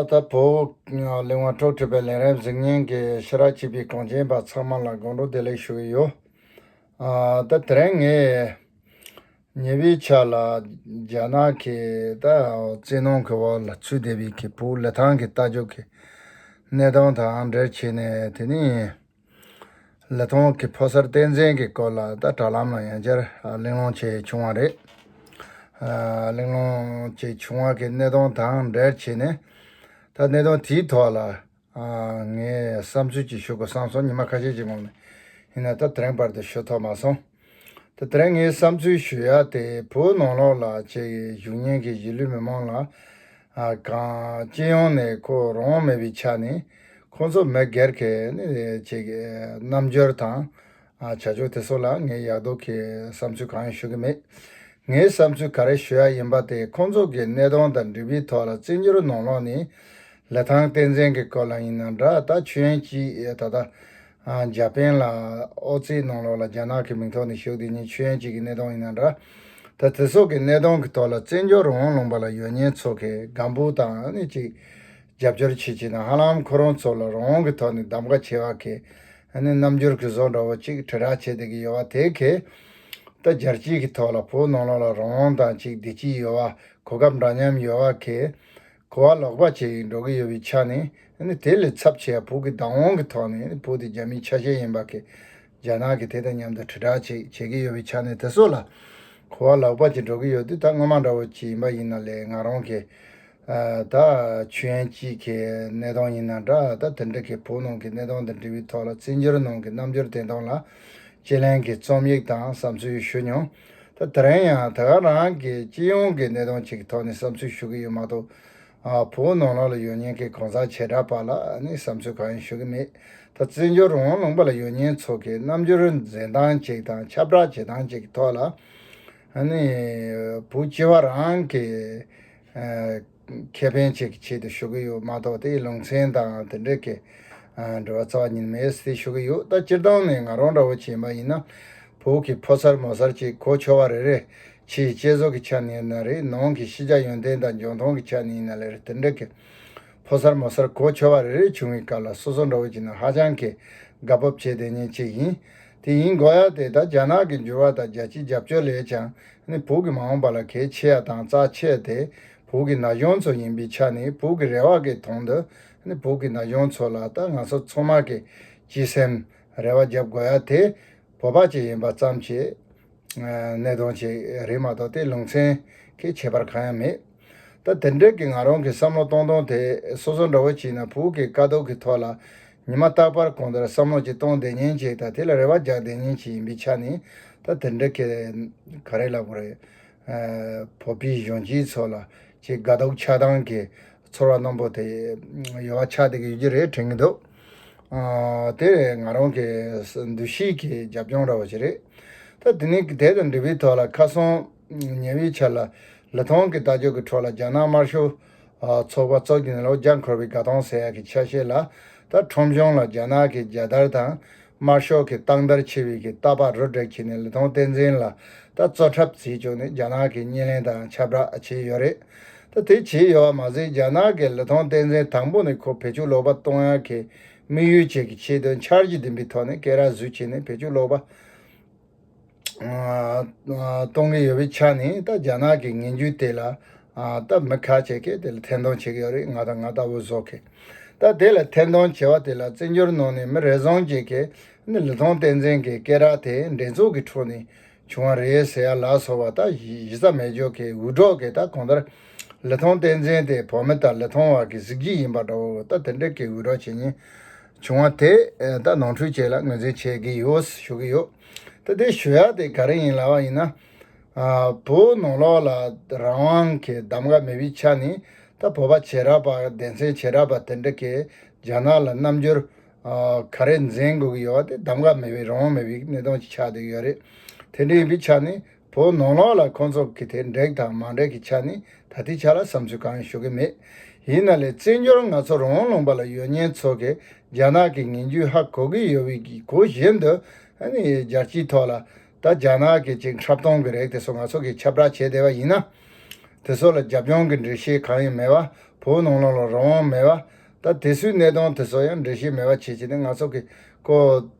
ད་བོད་གླིང་བ་འཕྲོག་ཁྲིད་པའི་ལས་རབས་གཟིགས་ཉན་གྱི་ཕྱི་ར་ཅེས་པའི་གངས་ཅན་པ་ཚང་མ་ལ་དགོང་དྲོ་བདེ་ལེགས་ཞུ་ཡི་ཡོད། ད་དེ་རིང་ངས་ཉེ་བའི་ཆ་ལ་རྒྱ་ནག་གི་ད་བཙན་གནོང་གི་བར་ལ་ཚུད་བསྡད་པའི་ཁེ་སྤོགས་ལས་ཐང་གི་རྟ་རྒྱུག་གི་གནས་སྟངས་དང་འབྲེལ་བྱས་ནས་དེ་ནི། ལི་ཐང་གི་ཕོ་གསར་བསྟན་འཛིན་གྱི་སྐོར་ལ་ད་དྲ་ལམ་ལ་ཡང་བསྐྱར་གླེང་སློང་བྱས་བྱུང་བ་རེད། གླེང་སློང་བྱས་བྱུང་བ་གྱི་གནད་དོན་དང་འབྲེལ་བྱས་ནས་ད་གནད་དོན་དེའི་ཐོག་ལ་ངས་བསམ་ཚུལ་གྱིས་ཞུ་དགོས་བསམ་སོང་ཉི་མ་ཁ་ཤས་ཀྱི་སྔོན་ནས་ཡིན་ན་ད་དེ་རིང་བར་དུ་ཞུ་ཐོགས་མ་སོང། ད་ཐེངས་ངས་བསམ་ཚུལ་ཞུ་ཡག་དེ་བོད་ནང་ལོག་ལ་བྱེད་ཀྱི་བཞུགས་ཉེན་གྱི་གཞིས་ལུས་མི་མང་ལ་གང་སྤྱི་ཡོངས་ནས་ཁོ་རང་དབང་མེད་པའི་ཆ་ནས་ཁོང་ཚོ་མི་སྒེར་གྱི་བྱེད་ཀྱི་རྣམ་འགྱུར་དང་བྱ་སྤྱོད་དེ་ཚོ་ལ་ངས་ཡག་སྡུག་གི་བསམ་ཚུལ་གང་ཡང་ཞུ་གི་མེད། ངས་བསམ་ཚུལ་ག་རེ་ཞུ་ཡག་ཡིན་པ་དེ་ཁོང་ཚོ་གི་གནས་སྟངས་དང་འགྲིག་པའི་ཐོག་ལ་བརྩི་འགྱུར་ནང་ལོག་ནས་ལི་ཐང་བསྟན་འཛིན་གྱི་སྐོར་ལ་ཡིན་ན་འདྲ་ད་ཆོས་ཡན་སྐྱིད་ད་ལྟ་འཇར་པན་ལ་ཨོ་རྩེད་གནང་ལོག་ལ་རྒྱ་ནག་གི་མིང་ཐོག་ནས་ཞུགས་དེ་ཉིད་ཆོས་ཡན་ཅིག་གི་གནས་སྟངས་ཡིན་ན་འདྲ། ད་དེ་སོགས་ཀྱི་གནས་སྟངས་ཀྱི་ཐོག་ལ་བཙན་བྱོལ་རོང་བོ་ལུང་པ་ལ་ཡོད་ཉེན་ཚོ་གས་སྒམ་པོ་དང་ནི་ཅིག་རྒྱབ་སྐྱོར་བྱེད་བྱེད་ན་ཧ་ལམ་ཁོ་རང་ཚོ་ལ་རང་དབང་གི་ཐོག་ནས་གདམ་ཀ་བྱེད་བ་གས་ནི་རྣམ་འགྱུར་གི་བཟོ་འདྲ་བོ་ཅིག་དྲིལ་བསྒྲགས་བྱེད་བསྡད་ཀྱི་ཡོད་བ་དེ་གས་ད་རྒྱལ་སྤྱིའི་གི་ཐོག་ལ་བོད་ནང་ལོག་ལ་རང་དབང་དང་ཅིག་བདེ་སྐྱིད་ཡོད་བ་གོ་སྐབས་འདྲ་མཉམ་ཡོད་བ་གས་གོ་བ་ལོག་པ་བྱས་ཡིན་འགྲོ་གི་ཡོད་པའི་ཆ་ནས་དེ་ལས་ཚབས་ཆེ་བ་བོད་ཀྱི་བདག་དབང་གི་ཐོག་ནས་བོད་དེ་རྒྱ་མིའི་ཆ་ཤས་ཡིན་པ་ཁས་རྒྱ་ནག་གིས་དེ་དང་མཉམ་དུ་དྲིལ་བསྒྲགས་བྱེད་བྱེད་ཀྱི་ཡོད་པའི་ཆ་ནས་དེ་སོགས་ལ་གོ་བ་ལོག་པ་བྱེད་འགྲོ་གི་ཡོད་དུས་ད་སྔོན་མ་འདྲ་བོ་ཅིག་ཡིན་པ་ཡིན་ན་ལས་ང་རང་གི་ད་ཆུ་ཡན་སྐྱིད་ཀྱི་གནས་སྟངས་ཡིན་ན་འདྲ་ད་དེ་འདྲ་གི་བོད་ནང་གི་གནས་སྟངས་དང་འབྲེལ་བའི་ཐོག་ལ་བཙན་བྱོལ་ནང་གི་རྣམ་འགྱུར་བདེན་སྟངས་ལ་དཔྱད་གླེང་གི་རྩོམ་ཡིག་དང་བསམ་ཚུལ་ཞུ་མྱོང། ད་དེ་རིང་ཡང་ད་ག་རང་གི་སྤྱི་ཡོངས་ཀྱི་གནས་དོན་ཅིག་ཐོག་ནས་བསམ་ཚུལ་ཞུ་གི་ཡོད་མ་གཏོགས། བུ་མོ་ནོར་ལྷ་ལ་ཡོད་ཉེན་ཀྱི་གང་ཟག་བྱེ་བྲག་པ་ལ་ནི་བསམ་ཚུལ་གང་ཡང་ཞུ་གི་མེད། ད་བཙན་བྱོལ་རང་དབང་ལུང་པ་ལ་ཡོད་ཉེན་ཚོགས་ཀྱི་རྣམ་འགྱུར་འཛིན་སྟངས་ཅིག་དང་ཁྱབ་བསྒྲགས་བྱེད་སྟངས་ཅིག་གི་ཐོག་ལ། བུ་སྤྱི་བ་རང་གི། ཁེ་ཕན་བཅས་ཀྱི་ཆེད་དུ་ཞུ་གི་ཡོད་མ་གཏོགས་དེའི་ལུང་ཚན་དང་དེ་འབྲེལ་གྱི་འབྲེལ་བ་རྩ་བ་ཉིད་མེད་ཟེར་ཏེ་ཞུ་གི་ཡོད་ད་སྤྱིར་བཏང་ནས་ང་རང་འདྲ་བོ་བྱེས་མ་ཡིན་ན་བོད་ཀྱི་ཕོ་གསར་མོ་གསར་བཅས་གོ་ཆོ་བ་རེ་རེ་ཕྱིའི་དཔྱད་བཟོ་གི་ཆ་ནས་ན་རེ་ནང་གི་ཤེས་བྱ་ཡོན་ཏན་དང་འཇོན་མཐོང་གི་ཆ་ནས་ན་ལེར་དེ་འབྲེལ་གྱི་ཕོ་གསར་མོ་གསར་གོ་ཆོ་བ་རེ་རེ་བྱུང་བའི་སྐབས་ལ་སོ་སོ་འདྲ་བོ་བྱེས་ན་ཧ་ཅང་གི་དགའ་སྤོབས་བྱེད་དོན་ཉིན་གཅིག་ཡིན་དེ་ཡིན་གོ་ཡ་དེ་ལྟར་རྒྱ་ནག་གི་འགྱུར་བ་དང་རྒྱལ་སྤྱིའི་རྒྱབ་སྐྱོར་ལས་ཀྱང་ནི་བོད་ཀྱི་མ་འོངས་པ་ལ་གལ་ཆེ་ཡ་དང་རྩ་ཆེ་དེ་བོད་ཀྱི་ན་གཞོན་ཚོ་ཡིན་པའི་ཆ་ནས་བོད་ཀྱི་རེ་བ་གི་དོང་དུ་ནི་བོད་ཀྱི་ན་གཞོན་ཚོ་ལ་ད་ང་ཚོ་ཚོ་མ་གི་སྤྱི་སེམས་རེ་བ་རྒྱབ་དགོ་ཡ་དེ་བོད་པ་གཅིག་ཡིན་པ་ཙམ་གྱི་གནད་དོང་གཅིག་རེད་མ་གཏོགས་དེ་ལུང་ཚན་གྱི་ཁྱད་པར་གང་ཡང་མེད། ད་དེ་འབྲེལ་གྱི་ང་རང་གི་བསམ་བློ་གཏོང་སྟངས་དེ་སོ་སོ་འདྲ་བོ་བྱས་ན་བོད་ཀྱི་དཀའ་སྡུག་གི་ཐོག་ལ་ཉི་མ་རྟག་པར་གང་ལྟར་བསམ་བློ་ཅིག་གཏོང་བདེ་ཉེན་ཅིག་དང་དེ་ལ་རེ་བ་རྒྱག་བདེ་ཉེན་ཅིག་ཡིན་པའི་ཆ་ནས་ད་དེ་འདྲེ་ག་རེ་ལབ་པ་རེད། བོད་པའི་གཞོན་སྐྱེས་ཚོ་ལ་ཆེས་དགའ་སྡུག་ཆགས་སྡང་གི་ཚོར་བ་རྣོན་པོ་དེ་ཡོད་བ་ཆགས་བསྡད་ཀྱི་ཡོད་རྒྱུ་རེད་དྲན་གྱི་འདུག་དེ་ང་རང་གི་འདུ་ཤེས་ཀྱི་རྒྱབ་ལྗོངས་འདྲ་བོ་ཞིག་རེད། ད་དེ་ནས་དེ་དང་འབྲེལ་བའི་ཐོག་ལ་ཁ་སང། ཉེ་བའི་ཆར་ལ་ལི་ཐང་གི་རྟ་མཆོག་གི་འཕྲོ་ལ་རྒྱ་ནག་དམར་ཤོག་ཚོགས་པ་གཙོ་བྱས་ནས་ལོ་བརྒྱ་འཁོར་བའི་དགའ་སྟོན་ཟེར་ཡག་གི་ཆ་ཤས་ལ་ད་ཁྲོམ་གཞུང་ལ་རྒྱ་ནག་གི་རྒྱལ་དར་དང་དམར་ཤོག་གི་སྟག་མདར་ཕྱེ་བའི་གི་རྟ་ཕག་རུ་དྲེག་ཁྱེར་ནས་ལི་ཐང་བསྟན་འཛིན་ལ་ད་གཙོ་འཁྲབ་བྱེད་བཅུག་ནས་རྒྱ་ནག་གི་བརྙན་ལེན་དང་ཁྱབ་བསྒྲགས་བྱས་ཡོད་རེད་ད་དེ་བྱས་ཡོད་བ་མ་ཟད་རྒྱ་ནག་གི་ལི་ཐང་བསྟན་འཛིན་དང་པོ་ནས་ཁོ་བེད་སྤྱོད་ལོག་པ་གཏོང་ཡག་གི་དམིགས་ཡུལ་བཅས་ཀྱི་ཆེད་དོན་འཆར་གཞི་འདིམ་པའི་ཐོག་ནས་སྐད་རགས་བཟོས་བྱས་ནས་བེད་སྤྱོད་ལོག་པ། གཏོང་གི་ཡོད་པའི་ཆ་ནས་ད་རྒྱ་ནག་གི་ངན་ཇུས་དེ་ལ་ད་མི་ཁ་བྱེད་མཁན་དེ་ལ་ཐེར་འདོན་བྱེད་ཀྱི་ཡོད་རེད་ང་དང་ང་ལྟ་བུ་བཟོ་མཁན་ད་དེ་ལ་ཐེར་འདོན་བྱེད་པ་དེ་ལ་བཙན་བྱོལ་ནང་ནས་མི་རེ་ཟུང་གཅིག་གིས་ནི་ལི་ཐང་བསྟན་འཛིན་གྱི་སྐད་རགས་དེ་འགྲན་ཚོགས་ཀྱི་ཁྲོད་ནས་བྱུང་བ་རེད་ཟེར་ཡ་ལགས་སོ་བ་ད་གཞི་རྩ་མེད་ཇོ་ཁའི་འུད་སྒྲོག་གིས་ད་གང་ལྟར་ལི་ཐང་བསྟན་འཛིན་དེ་བོད་མི་དང་ལི་ཐང་བར་གྱི་གཟི་བརྗིད་ཡིན་པ་འདྲ་བོ་ད་དེ་འདྲ་གི་འུད་སྒྲོག་བྱེད་ཉིན་བྱུང་བ་དེ་ད་ནང་འཕྲུལ་ཆས་ལ་ངོས་འཛིན་བྱེད་ཀྱི་ཡོད་ཞུ་གི་ཡོད། ད་དེ་ཞུ་ཡག་དེ་ག་རེ་ཡིན་ལབ་པ་ཡིན་ན། བོད་ནང་ལོགས་ལ་རང་དབང་གི་གདམ་ག་མེད་པའི་ཆ་ནས་ད་བོད་པ་བྱེས་རབས་པ་སྡེ་ཚན་བྱེས་རབས་པ་དེ་འདྲ་གིས་རྒྱ་ནག་ལ་རྣམ་འགྱུར་ག་རེ་འཛིན་དགོས་ཀྱི་ཡོད་པ་དེ་གདམ་ག་མེད་པའི་རང་དབང་མེད་པའི་གནས་སྟངས་ཆགས་སྡོད་ཡོད་རེད། དེ་འདྲ་ཡིན་པའི་ཆ་ནས་བོ་ནོར་ལགས་ལ་ཁོང་ཚོགས་ཀྱི་དེ་འགྲེགས་དང་མ་འགྲེགས་ཀྱི་ཆ་ནི་ད་ལྟའི་ཆ་ལ་བསམ་ཚུལ་གང་ཡང་ཞུ་གི་མེད། ཡིན་ན་ལས་བཙན་འབྱོར་ང་ཚོ་རོང་ལུང་པ་ལ་ཡོད་ཉེན་ཚོ་གི་རྒྱ་ནག་གི་ངན་རྒྱུ་ཧ་གོ་གི་ཡོད་བི་གི་གོ་བཞིན་དུ་རྒྱལ་སྤྱིའི་ཐོག་ལ་ད་རྒྱ་ནག་གི་ཅིག་འཁྲབ་སྟོང་གི་རེག་དེ་ཚོ་ང་ཚོ་གི་ཁྱབ་བསྒྲགས་བྱེད་བསྡད་བ་ཡིན་ན། དེ་ཚོ་ལ་རྒྱབ་སྐྱོང་གི་འགྲེལ་བཤད་གང་ཡང་མེད་བ་བོ་ནོར་ལགས་ལ་རང་དབང་མེད་བ། ད་དེ་སུའི་གནས་སྟངས་དེ་ཚོ་ཡང་འགྲེལ་བཤད་མེད་བ་བྱེད་བྱེད་ནི་ང་ཚོ་གི་ཀོ།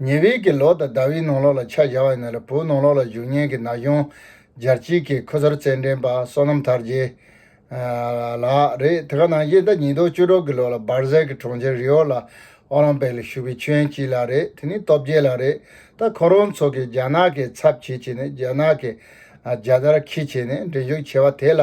ཉེ་བའི་གི་ལོག་དང་ཟླ་བའི་ནང་ལོག་ལ་ཆ་བཞག་ཡོད་ན་ལ་བོའི་ནང་ལོག་ལ་བཞུགས་ཉེན་གྱི་ན་གཞོན་སྦྱར་སྤྱིལ་གྱི་ཁུ་ཚུར་རྩེད་འགྲན་པ་བསོད་ནམས་དར་རྒྱས། ལགས། རེད་དེ་ག་ནང་བཞིན་ཟླ་ཉིས་སྟོང་བཅུ་དྲུག་གི་ལོག་ལ་སྦར་ཟལ་གྱི་གྲོང་ཁྱེར་རིའོ་ལ་ཨོ་ལམ་པེག་ལ་བཞུགས་པའི་ཆོས་ཡན་སྤྱིལ་ལགས་རེད་དེ་ནི་སྟོབས་རྒྱལ་ལགས་རེད་ད་ཁོ་རང་ཚོ་གི་རྒྱ་ནག་གི་ཚབ་བྱེད་བྱེད་ནས་རྒྱ་ནག་གི་རྒྱ་དར་ཁྱི་བྱེད་ནས་འགྲན་ཞུགས་བྱེད་པ་དེ་ལ་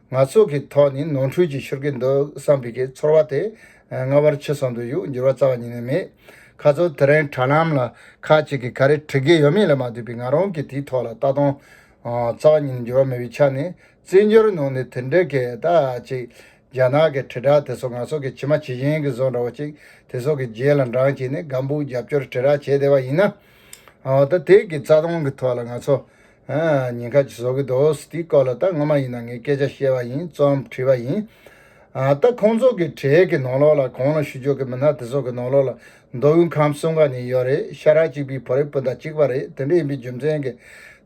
ང་ཚོ་གི་ཐོག་ནི་ནོར་འཁྲུལ་གྱིས་ཤོར་གྱི་འདུག་བསམ་པའི་གི་ཚོར་བ་དེ་སྔ་བར་ཕྱི་སོང་དུ་གཡུག་འགྱུར་བ་རྩ་བ་ཉིད་ནས་མེད། ཁ་ཚོར་དེ་རིང་དྲ་ལམ་ལ་ཁག་ཅིག་གིས་ག་རེ་བྲི་གི་ཡོད་མེད་ལས་མ་བསྡུས་པའི་ང་རང་གིས་དེའི་ཐོག་ལ་ལྟ་སྟངས་རྩ་བ་ཉིད་ནས་འགྱུར་བ་མེད་པའི་ཆ་ནས་རྩེད་འཇོར་ནང་ནས་དེ་འདྲའི་གི་ད་ཅིག་རྒྱ་ནག་གི་དྲིལ་བསྒྲགས་དེ་ཚོ་ང་ཚོ་གི་ཇི་མ་ཇི་བཞིན་གི་བཟོ་འདྲ་བོ་ཅིག་དེ་ཚོ་གི་རྗེས་ལ་འབྲངས་བྱས་ནས་སྒམ་པོའི་རྒྱབ་སྐྱོར་དྲིལ་བསྒྲགས་བྱས་བསྡད་པ་ཡིན་ན། ད་དེ་གི་རྩ་སྟངས་གི་ཐོག་ལ་ང་ཚོ་ཉིན་ཁ་ཅིག་བཟོ་གི་འདུག་དེའི་སྐོར་ལ་ད་ངོ་མ་ཡིན་ན་ངས་སྐད་ཆ་བཤད་པ་ཡིན་རྩོམ་བྲིས་པ་ཡིན། ད་ཁོང་ཚོ་གི་གྲས་ཀྱི་ནང་ལོགས་ལ་གང་ལ་ཞུ་ཆོག་གི་མི་སྣ་དེ་ཚོ་གི་ནང་ལོགས་ལ་མདོ་དབུས་ཁམས་གསུམ་ག་ནས་ཡོད་རེད་ཤ་ར་གཅིག་པའི་བོད་རིགས་སྤུན་ཟླ་གཅིག་པ་རེད་དེ་འདྲ་ཡིན་པའི་རྒྱུ་མཚན་གི་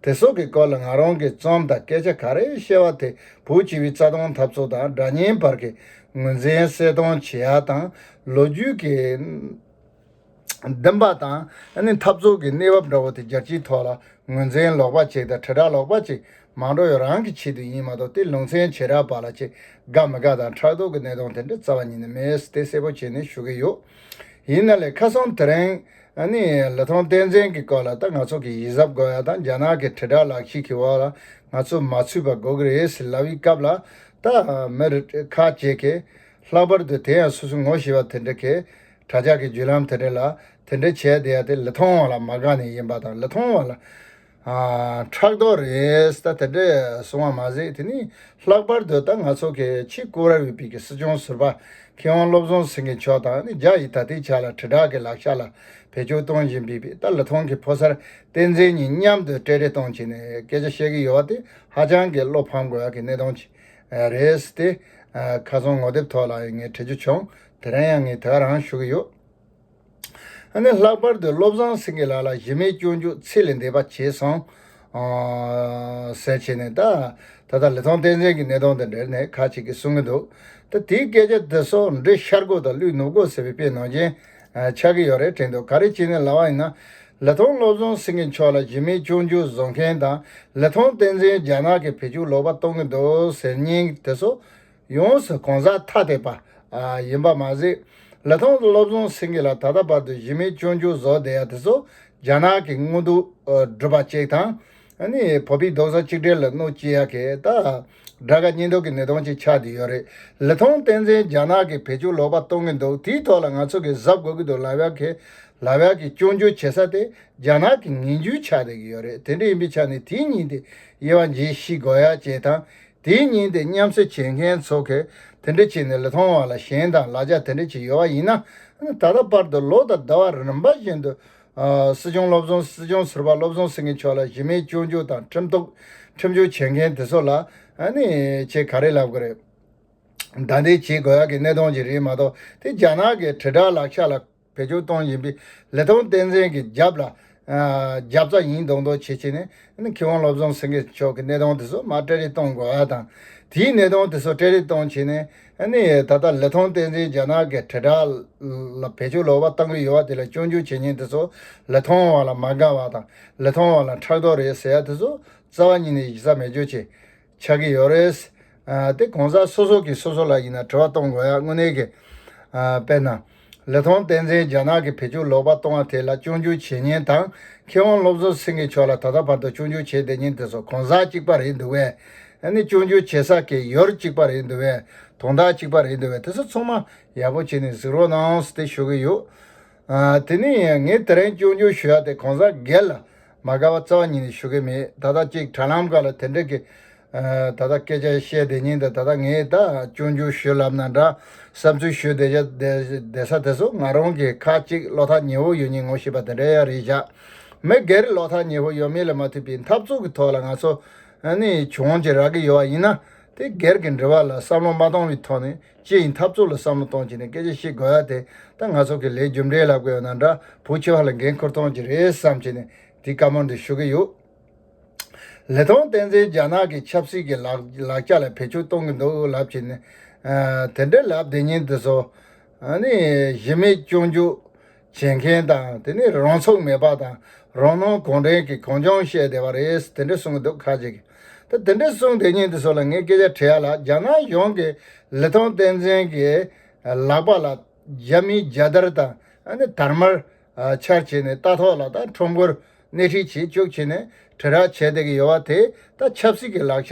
དེ་སོགས་ཀྱི་སྐོར་ལ་ང་རང་གི་རྩོམ་དང་སྐད་ཆ་ག་རེ་བཤད་པ་དེ་བོད་སྤྱི་བའི་རྩ་དོན་འཐབ་རྩོད་དང་དགྲ་གཉེན་བར་གྱི་ངོས་འཛིན་གསལ་སྟོན་བྱེད་ཡ་དང་ལོ་རྒྱུས་ཀྱི། བདེན་པ་དང་ནི་འཐབ་རྩོད་ཀྱི་གནས་བབ་འདྲ་བོ་དེ་རྒྱལ་སྤྱིའི་ཐོག་ལ་ངོས་འཛིན་ལོག་པ་ཅིག་དང་དྲིལ་བསྒྲགས་ལོག་པ་ཅིག་མང་འགྲོ་ཡོད་རང་གི་ཆེད་དུ་ཡིན་མ་གཏོགས་དེ་ལུང་ཚན་བྱེ་བྲག་པ་ལ་ཅི་དགའ་མི་དགའ་དང་ཕྲག་དོག་གི་གནས་སྟངས་དེ་འདྲ་རྩ་བ་ཉིད་ནས་མེད་དེ་གསལ་པོ་བྱས་ནས་ཞུ་གི་ཡོད། ཡིན་ན་ལས་ཁ་སང་དེ་རིང་ནི་ལི་ཐང་བསྟན་འཛིན་གྱི་སྐོར་ལ་ད་ང་ཚོ་གི་ཡིད་གཟབ་དགོས་ཡ་དང་རྒྱ་ནག་གི་དྲིལ་བསྒྲགས་ལག་ཤེས་ཀྱི་འོག་ལ་ང་ཚོ་མ་ཚུད་པ་དགོས་ཀྱི་རེད་ཟེར་ལབ་ཡི་སྐབས་ལ་ད་མི་རེ་ཁ་ལྕེ་གེ། ལྷག་པར་དུ་དེ་ཡང་སོ་སོའི་ངོ་ཤེས་པ་དེ་འདྲ་གེ། དྲ་ཇག་གི་བརྒྱུད་ལམ་དེ་འདྲ་ལ་དེ་འདྲ་བྱས་བསྡད་དེ་ལི་ཐང་བ་ལ་མ་དགའ་ནས་ཡིན་པ་དང་ལི་ཐང་བ་ལ་ཕྲག་དོག་རེད་ད་དེ་འདྲ་སོང་བ་མ་ཟད་དེ་ནི་ལྷག་པར་དུ་ད་ང་ཚོ་གི་ཆེས་བཀུར་བར་འོས་པའི་གི་སྲིད་སྐྱོང་ཟུར་པ་མཁས་དབང་བློ་བཟང་སེང་གེ་མཆོག་དང་ནི་རྒྱ་ཡིས་ད་ལྟའི་ཆ་ལ་དྲིལ་བསྒྲགས་གི་ལག་ཆ་ལ་བེད་སྤྱོད་གཏོང་བཞིན་པའི་པའི་ད་ལི་ཐང་གི་ཕོ་གསར་བསྟན་འཛིན་གཉིས་མཉམ་དུ་སྤྲེལ་རེ་གཏོང་བྱས་ནས་སྐད་ཆ་བཤད་གི་ཡོད་བ་དེ་ཧ་ཅང་གི་བློ་ཕམ་དགོས་ཡག་གི་གནས་སྟངས་ཅིག་རེད་དེ། ཁ་སང་ངོ་དེབ་ཐོག་ལ་ཡང་ངས་བྲི་རྒྱུ་བྱུང་དེ་རིང་ཡང་ངས་དེ་ག་རང་ཞུ་གི་ཡོད། ཨ་ནི་ལྷག་པར་དུ་བློ་བཟང་སེང་གེ་ལགས་ལ་གཞི་མེད་སྐྱོན་འཇུག་ཚིག་ལས་འདས་པ་བྱས་སོང། ཟེར་བྱས་ནས་ད་ད་ལྟ་ལི་ཐང་བསྟན་འཛིན་གྱི་གནས་སྟངས་དང་འབྲེལ་ནས་ཁ་ཅིག་གིས་གསུང་གི་འདུག་ད་དེའི་སྐད་ཆ་འདི་ཚོ་འབྲི་ཤར་སྒོ་དང་ཀླུའི་ནུབ་སྒོ་ཟེར་བའི་དཔེ་ནང་བཞིན་ཆགས་ཀྱི་ཡོད་རེད་དྲན་འདུག་ག་རེ་བྱས་ནས་ལ་བ་ཡིན་ན་ལི་ཐང་བློ་བཟང་སེང་གེ་མཆོག་ལ་གཞི་མེད་སྐྱོན་འཇུག་བཟོ་མཁན་དང་ལི་ཐང་བསྟན་འཛིན་རྒྱ་ནག་གི་བེད་སྤྱོད་ལོག་པ་གཏོང་གི་འདུག་ཟེར་སྙིང་དེ་ཚོ་ཡོངས་སུ་གང་ཟག་ཐ་དད་པ། ཡིན་པ་མ་ཟད། ལི་ཐང་དུ་སློབ་སྦྱོང་ཟིན་གྱི་ལ་ད་ལྟ་བར་དུ་གཞི་མེད་སྤྱོད་འཇུག་བཟོ་བསྡད་ཡ་དེ་ཚོ་རྒྱ་ནག་གི་དངུལ་དུག་སྒྲུབ་པ་ཅིག་དང། བོད་པའི་རྡོག་རྩ་གཅིག་སྒྲིལ་ལ་གནོད་བསྐྱིལ་ཡ་གི་ད་དགྲ་དགའ་གཉེན་སྡུག་གི་ནད་གདོན་ཅིག་ཆགས་བསྡད་ཡོད་རེད། ལི་ཐང་བསྟན་འཛིན་རྒྱ་ནག་གི་བེད་སྤྱོད་ལོག་པ་གཏོང་གི་འདུག་དེའི་ཐོག་ལ་ང་ཚོ་གིས་གཟབ་དགོས་ཀྱི་འདུག་ལ་བྷལ་གི་ལ་བྷལ་གི་སྤྱོད་འཇུག་བྱེད་ས་དེ་རྒྱ་ནག་གི་ངན་བྱུས་ཆགས་བསྡད་ཀྱི་ཡོད་རེད་དེ་འདྲ་ཡིན་པའི་ཆ་ནས་དེའི་ཉིན་དེ་དབྱེ་བ་འབྱེད་ཤེས་དགོས་ཡ་ཅེས་དང། དེའི་ཉིན་དེ་མཉམ་བསྲེ་བྱེད་མཁན་ཚོ་གས་དེ་འདྲ་བྱེད་ནས་ལེ་ཐོང་བ་ལ་གཞན་དང་ལ་ཅག་དེ་འདྲ་བྱེད་ཡོད་བ་ཡིན་ན། ད་ལྟ་པར་དུ་ལོ་དང་ཟླ་བ་རིམ་པ་བཞིན་དུ། སྲིད་སྐྱོང་བློ་བཟང་སྲིད་སྐྱོང་ཟུར་པ་བློ་བཟང་སེང་གེ་མཆོག་ལ་གཞི་མེད་སྐྱོན་བརྗོད་དང་ཁྲིམས་གཏུགས་ཁྲིམས་གཅོད་བྱེད་མཁན་དེ་ཚོ་ལ། ནི། ཆེས་ག་རེ་ལབ་གི་རེད། བདའ་འདེད་བྱེད་དགོས་ཡག་གི་གནས་སྟོང་ཅིག་རེད་མ་གཏོགས་དེ་རྒྱ་ནག་གི་དྲིལ་བསྒྲགས་ལག་ཆ་ལ། བེད་སྤྱོད་གཏོང་བཞིན་པའི་ལི་ཐང་བསྟན་འཛིན་གྱི་རྒྱབ་ལ་རྒྱབ་རྩ་ཡིན་མདོག་མདོག་བྱེད་བྱེད་ནས་ཁི་དབང་བློ་བཟང་སེང་གེ་མཆོག་གི་གནས་སྟངས་དེ་ཚོ་མར་སྤྲད་རེས་གཏོང་དགོས་པ་དང། དེའི་གནས་སྟངས་དེ་ཚོ་སྤྲད་རེས་གཏོང་བྱས་ནས་ད་ལྟ་ལི་ཐང་བསྟན་འཛིན་རྒྱ་ནག་གི་དྲིལ་བསྒྲགས་ལ་བེད་སྤྱོད་ལོག་པ་བཏང་གི་ཡོད་པ་དེ་ལ་སྐྱོན་བརྗོད་བྱེད་མཁན་དེ་ཚོ་ལི་ཐང་བ་ལ་མ་དགའ་བ་དང་ལི་ཐང་བ་ལ་ཕྲག་དོག་རེད་ཟེར་ཡ་དེ་ཚོ་རྩ་བ་ཉིད་ནས་ཡིག་ཚགས་མེད་སྤྱོད་བྱེད་ཆགས་ཀྱི་ཡོད་རེད། དེ་གོང་གསལ་སོ་སོ་གིས་སོ་སོ་ལ་ཡིན་ན་དྲི་བ་གཏོང་དགོས་ཡ་དངོས་གནས་ཀྱི། དཔེར་ན། ལི་ཐང་བསྟན་འཛིན་རྒྱ་ནག་གི་བེད་སྤྱོད་ལོག་པ་གཏོང་བ་དེ་ལ་སྤྱོད་འཇུག་བྱེད་ཉེན་དང་མཁས་དབང་སློབ་གསོ་སེང་གེ་མཆོག་ལ་ད་ལྟ་བར་དུ་སྤྱོད་འཇུག་བྱེད་བསྡད་ཉེན་དེ་ཚོ་གོང་གསལ་གཅིག་པ་རེད་འདུག་བས་ཨ་ནི་སྤྱོད་འཇུག་བྱེད་ས་ཀྱི་ཡོར་གཅིག་པ་རེད་འདུག་བས་དོང་དག་གཅིག་པ་རེད་འདུག་བས་དེ་ཚོ་ཚང་མ་ཡག་པོ་བྱེད་ནས་གཟིགས་རོགས་གནང་ཟེ་ཞུ་གི་ཡོད། དེ་ནས་ངས་དེ་རིང་སྐྱོན་བརྗོད་ཞུ་ཡག་དེ་གང་ཟག་སྒེར་ལ་མ་དགའ་བ་རྩ་བ་ཉིད་ནས་ཞུ་གི་མེད་ད་ལྟ་གཅིག་དྲ་ལམ་ཁག་ལ་དེ་འདྲ་གི་ད་ལྟ་སྐད་ཆ་བཤད་བསྡད་ཉིན་དེ་ད་ལྟ་ངས་ད་སྐྱོན་བརྗོད་ཞུ་ལབ་ན་འདྲ་བསམ་ཚུལ་ཞུ་བསྡད་བཞག་བསྡད་ས་དེ་ཚོ་ང་རང་གིས་ཁག་གཅིག་བློ་ཐག་ཉེ་བོ་ཡོད་ཉིན་ངོ་ཤེས་པ་དེ་འདྲ་ཡང་རེད་བཞག་མི་སྒེར་བློ་ཐག་ཉེ་བོ་ཡོད་མེད་ལ་མ་མཐུད་པའི་འཐབ་རྩོད་ཀྱི་ཐོག་ལ་ང་ཚོ་ནི་བྱུང་བྱེད་རག་གི་ཡོད་བ་ཡིན་ན་དེ་སྒེར་གྱི་འབྲེལ་བ་ལ་བསམ་བློ་མ་གཏོང་བའི་ཐོག་ནས། ཅི་ཡིན་འཐབ་རྩོད་ལ་བསམ་བློ་གཏོང་བྱེད་ནས་སྐད་ཆ་བཤད་དགོས་ཡ་དེ་ད་ང་ཚོ་གི་ལས་རྒྱུ་འབྲས་ལབ་དགོས་ཡོད་ན་འདྲ་བུ་ཆེ་བ་ལ་འགན་ཁུར་གཏོང་གྱི་རེད་བསམ་བྱེད་ནས་དེ་ཀ་མོ་འདི་ཞུ་གི་ཡོད། ལི་ཐང་བསྟན་འཛིན་རྒྱ་ནག་གི་ཆབ་སྲིད་ཀྱི་ལག་ལྕགས་ལ་བེད་སྤྱོད་གཏོང་གི་འདུག་ལབ་བྱེད་ནས་དེ་འདྲ་ལབ་བདེ་ཉིན་འདི་ཚོ་ནི་གཞི་མེད་སྐྱོན་བརྗོད། བྱེད་མཁན་དང་དེ་ནས་རང་ཚུགས་མེད་པ་དང་རང་སྣང་གང་དྲན་གྱི་གང་བྱུང་བཤད་བསྡད་པ་རེད་དེ་འདྲས་གསུངས་འདུག་ཁ་ཅིག་གིས་ད་དེ་འདྲས་གསུངས་དེ་ཉིན་དེ་ཚོ་ལ་ངས་སྐད་ཆ་དྲིས་ཡ་ལ་རྒྱ་ནག་གཞུང་གིས་ལི་ཐང་བསྟན་འཛིན་གྱི་ལག་པ་ལ་རྒྱ་མིའི་རྒྱལ་དར་དང་དར་དམར་འཕྱར་བྱས་ནས་རྟ་ཐོག་ལ་དང་ཁྲོམ་སྐོར་སྣེ་ཁྲིད་བྱེད་བཅུག་བྱས་ནས་དྲིལ་བསྒྲགས་བྱས་བསྡད་ཀྱི་ཡོད་བ་དེ་ད་ཆབ་སྲིད་ཀྱི་ལག་ཆ་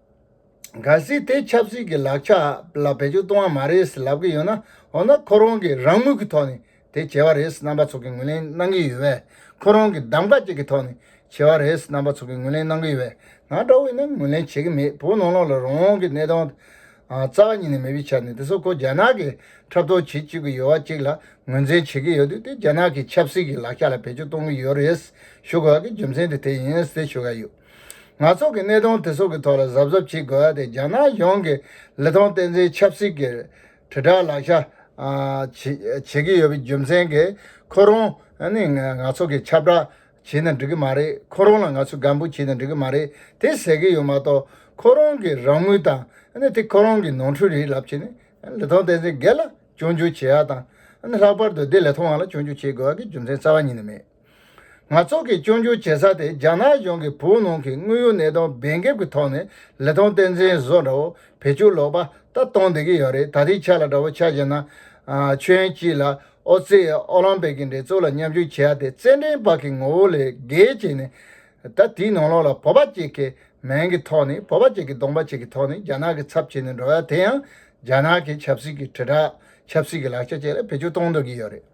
གལ་སྲིད་དེ་ཆབ་སྲིད་ཀྱི་ལག་ཆ་ལ་བེད་སྤྱོད་གཏོང་བ་མ་རེད་ཟེར་ལབ་ཀྱི་ཡོད་ན་འོ་ན་ཁོ་རང་གིས་རང་མོས་ཀྱི་ཐོག་ནས་དེ་བྱས་བ་རེད་ཟེར་རྣམ་པ་ཚོགས་ཀྱིས་ངོས་ལེན་གནང་གི་ཡོད་བས་ཁོ་རང་གིས་གདམ་ག་ཅིག་གི་ཐོག་ནས་བྱས་བ་རེད་ཟེར་རྣམ་པ་ཚོགས་ཀྱིས་ངོས་ལེན་གནང་གི་ཡོད་བས་ང་སྒྲ་དབྱེ་ན་ངོས་ལེན་བྱེད་ཀྱི་མེད་བོད་ནང་ལོགས་ལ་རང་གི་གནས་སྟངས་རྩ་བ་ཉིད་ནས་མེད་པའི་ཆ་ནས་དེ་སོགས་ཁོ་རྒྱ་ནག་གིས་འཁྲབ་སྟོན་བྱེད་བཅུག་གི་ཡོད་བ་ཅིག་ལ་ངོས་འཛིན་བྱེད་ཀྱི་ཡོད་དུས་དེ་རྒྱ་ནག་གི་ཆབ་སྲིད་ཀྱི་ལག་ཆ་ལ་བེད་སྤྱོད་གཏོང་གི་ཡོད་རེད་ཟེར་ཞུ་དགོས་བ་གི་རྒྱུ་མཚན་དེ་དེ་ཡིན་ཟེར་ཞུ་ག་ཡོད། ང་ཚོ་གི་གནས་སྟངས་དེ་ཚོ་གི་ཐོག་ལ་གཟབ་གཟབ་བྱེད་དགོས་ཏེ་རྒྱ་ནག་ཡོངས་ཀྱི་ལི་ཐང་བསྟན་འཛིན་ཆབ་སྲིད་ཀྱི་དྲིལ་བསྒྲགས་ལག་ཆ་བྱེད་ཀྱི་ཡོད་པའི་རྒྱུ་མཚན་གྱིས་ཁོ་རང་ནི་ང་ཚོ་གི་ཁྱབ་བསྒྲགས་བྱེད་ནི་འགྲིག་གི་མ་རེད་ཁོ་རང་ལ་ང་ཚོས་སྒམ་པོ་བྱེད་ནི་འགྲིག་གི་མ་རེད་དེ་ཟེར་གྱི་ཡོད་མ་གཏོགས་ཁོ་རང་གི་རང་མོས་དང་དེ་ཁོ་རང་གི་ནོར་འཁྲུལ་རེད་ལབ་ཆེད་ནི་ལི་ཐང་བསྟན་འཛིན་སྒེར་ལ་སྐྱོན་བརྗོད་བྱེད་ཡག་དང་ལྷག་པར་དུ་དེ་ལི་ཐང་བ་ལ་སྐྱོན་བརྗོད་བྱེད་དགོས་ཡག་གི་རྒྱུ་མཚན་རྩ་བ་ཉིད་ནས་མེད། ནག་ཚོགས་ཀྱིས་སྐྱོན་བརྗོད་བྱེད་ས་དེ་རྒྱ་ནག་གཞུང་གིས་བོད་ནང་གི་དངོས་ཡོད་གནས་སྟངས་འབེན་འགེབས་ཀྱི་ཐོག་ནས་ལི་ཐང་བསྟན་འཛིན་བཟོ་འདྲ་བོ་བེད་སྤྱོད་ལོག་པ་ལྟ་གཏོང་བསྡད་ཀྱི་ཡོད་རེད་ད་དེའི་ཆ་ལ་འདྲ་བོ་ཆགས་བཞིན་ན། ཁྱོད་ཀྱིས་ལ་ཨོ་རྩེ་ཡིས་ཨོ་ལམ་པིག་གི་འགྲན་རྩོད་ལ་མཉམ་ཞུགས་བྱས་ཡ་དེ་རྩེད་འགྲན་བག་གི་ངོ་བོ་ལས་བརྒལ་བྱས་ནས། ད་དེའི་ནང་ལོགས་ལ་བོད་པ་གཅིག་གི་མིང་གི་ཐོག་ནས་བོད་པ་གཅིག་གི་གདོང་པ་གཅིག་གི་ཐོག་ནས་རྒྱ་ནག་གི་ཚབ་བྱས་ནས་འགྲོ་ཡ་དེ་ཡང་རྒྱ་ནག་གི་ཆབ་སྲིད་ཀྱི་དྲིལ་བསྒྲགས་ཆབ་སྲིད་ཀྱི་ལག་ཆ་བཅས་ལ་བེད་སྤྱོད་གཏོང་འདོད་ཀྱི་ཡོད་རེད།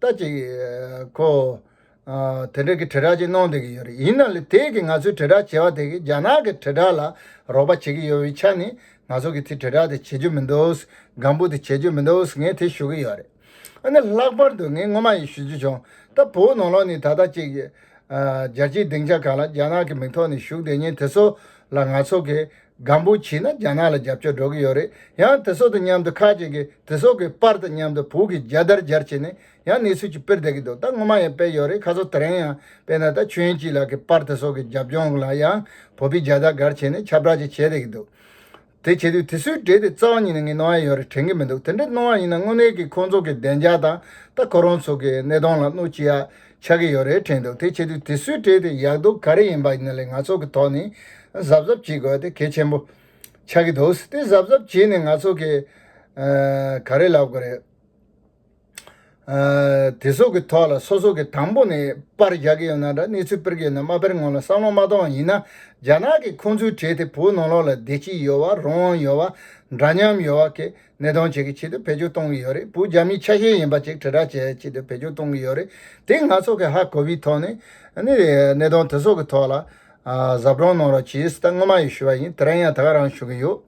ལྟ་ཅི། ཁོ། དེ་འདྲ་གི་དྲིལ་བསྒྲགས་ཅིག་གནང་སྡོད་ཀྱི་ཡོད་རེད་ཡིན་ནའང་ལེ་དེས་གི་ང་ཚོས་དྲིལ་བསྒྲགས་བྱེད་པ་དེ་གི་རྒྱ་ནག་གི་དྲིལ་བསྒྲགས་ལ་རོགས་པ་བྱེད་ཀྱི་ཡོད་པའི་ཆ་ནས་ང་ཚོ་གི་དེ་དྲིལ་བསྒྲགས་དེ་བྱེད་རྒྱུ་མི་འདུག་སྒམ་པོ་དེ་བྱེད་རྒྱུ་མི་འདུག་ངས་དེ་ཞུ་གི་ཡོད་རེད། ཨ་ནི་ལྷག་པར་དུ་ངས་སྔོན་མ་ཡི་ཞུ་རྒྱུ་བྱུང་ད་བོད་ནང་ལོགས་ནས་ད་ལྟ་ཅིག། རྒྱལ་སྤྱིའི་སྡིངས་ཆ་གང་ལ་རྒྱ་ནག་གི་མིང་ཐོག་ནས་ཞུགས་བསྡད་ཉེན་དེ་ཚོ་ལ་ང་ཚོ་གི་སྒམ་པོ་བྱིན་ན་རྒྱ་ནག་ལ་རྒྱབ་སྐྱོར་འགྲོ་གི་ཡོད་རེད་ཡང་དེ་སོགས་དང་མཉམ་དུ་ཁག་ཅིག་གིས་དེ་སོགས་ཀྱི་པར་དང་མཉམ་དུ་བོད་ཀྱི་རྒྱལ་དར་སྦྱར་བྱས་ནས་ཡང་གནས་ཚུལ་གྱི་དཔེར་བསྡད་ཀྱི་འདུག་ད་སྔོན་མ་ཡང་སྤེལ་ཡོད་རེད་ཁ་སོ་དེ་རིང་ཡང་སྤེལ་ན་ད་ཆོན་སྐྱིད་ལགས་ཀྱི་པར་དེ་སོགས་ཀྱི་རྒྱབ་ལྗོངས་ལ་ཡང་བོད་པའི་རྒྱལ་དར་སྒར་བྱས་ནས་ཁྱབ་བསྒྲགས་ཅིག་བྱས་བསྡད་ཀྱི་འདུག་དེ་བྱེད་དུས་དེ་སུའི་གྲས་དེ་རྩ་བ་ཉིད་ནས་ངས་གནང་ཡ་ཡོད་རེད་དྲན་གྱི་མི་འདུག་དེ་འདྲ་གནང་བ་ཡིན་ན་དངོས་གནས་ཀྱི་ཁོང་ཚོ་གི་བདེ་འཇགས་དང་ད་ཁོ་རང་ཚོ་གི་གནས་སྟངས་ལ་གནོད་ཅི་ཡ་ཆགས་ཀྱི་ཡོད་རེད་དྲན་འདུག་དེ་བྱེད་དུས་དེ་སུས་སྤྲད་དེ་ཡག་སྡུག་ག་རེ་ཡིན་པ་ནི་ལས་ང་ཚོ་གི་ཐོག་ནས་གཟབ་གཟབ་བྱེད་དགོས་དེ་གལ་ཆེན་པོ་ཆགས་ཀྱི་འདུག་དེ་གཟབ་གཟབ་བྱས་ནས་ང་ཚོ་གིས་ག་རེ་ལབ་དགོས་རེད། དེ་སོགས་ཀྱི་ཐོག་ལ་སོ་སོ་གིས་དང་པོ་ནས་པར་རྒྱག་གི་ཡོད་ན་འདྲ་གནས་ཚུལ་དཔེར་བརྒལ་ན་མ་དཔེར་ངོ་ལ་བསམ་བློ་མ་གཏོང་བ་ཡིན་ན་རྒྱ་ནག་གིས་ཁོང་ཚོའི་གྲས་དེ་བོད་ནང་ལོགས་ལ་བསྡད་ཀྱི་ཡོད་བ་རོང་ཡོད་བ་འདྲ་མཉམ་ཡོད་བ་གས་ནད་ཐོན་བྱེད་ཀྱི་ཆེད་དུ་བེད་སྤྱོད་གཏོང་གི་ཡོད་རེད་བོད་རྒྱ་མིའི་ཆ་ཤས་ཡིན་པ་ཅིག་དྲིལ་བསྒྲགས་བྱེད་ཆེད་དུ་བེད་སྤྱོད་གཏོང་གི་ཡོད་རེད་དེ་ང་ཚོ་གི་ཧ་གོ་བའི་ཐོག་ནས་ནི་གནད་དོན་དེ་ཚོ་གི་ཐོག་ལ་ཟབ་སྦྲོང་གནང་རོགས་བྱས་ཟིན་ད་སྔོན་མ་ཡི་ཞུ་བ་ཡིན་དེ་རང་ཡང་ད་ག་རང་ཞུ་གི་ཡོད་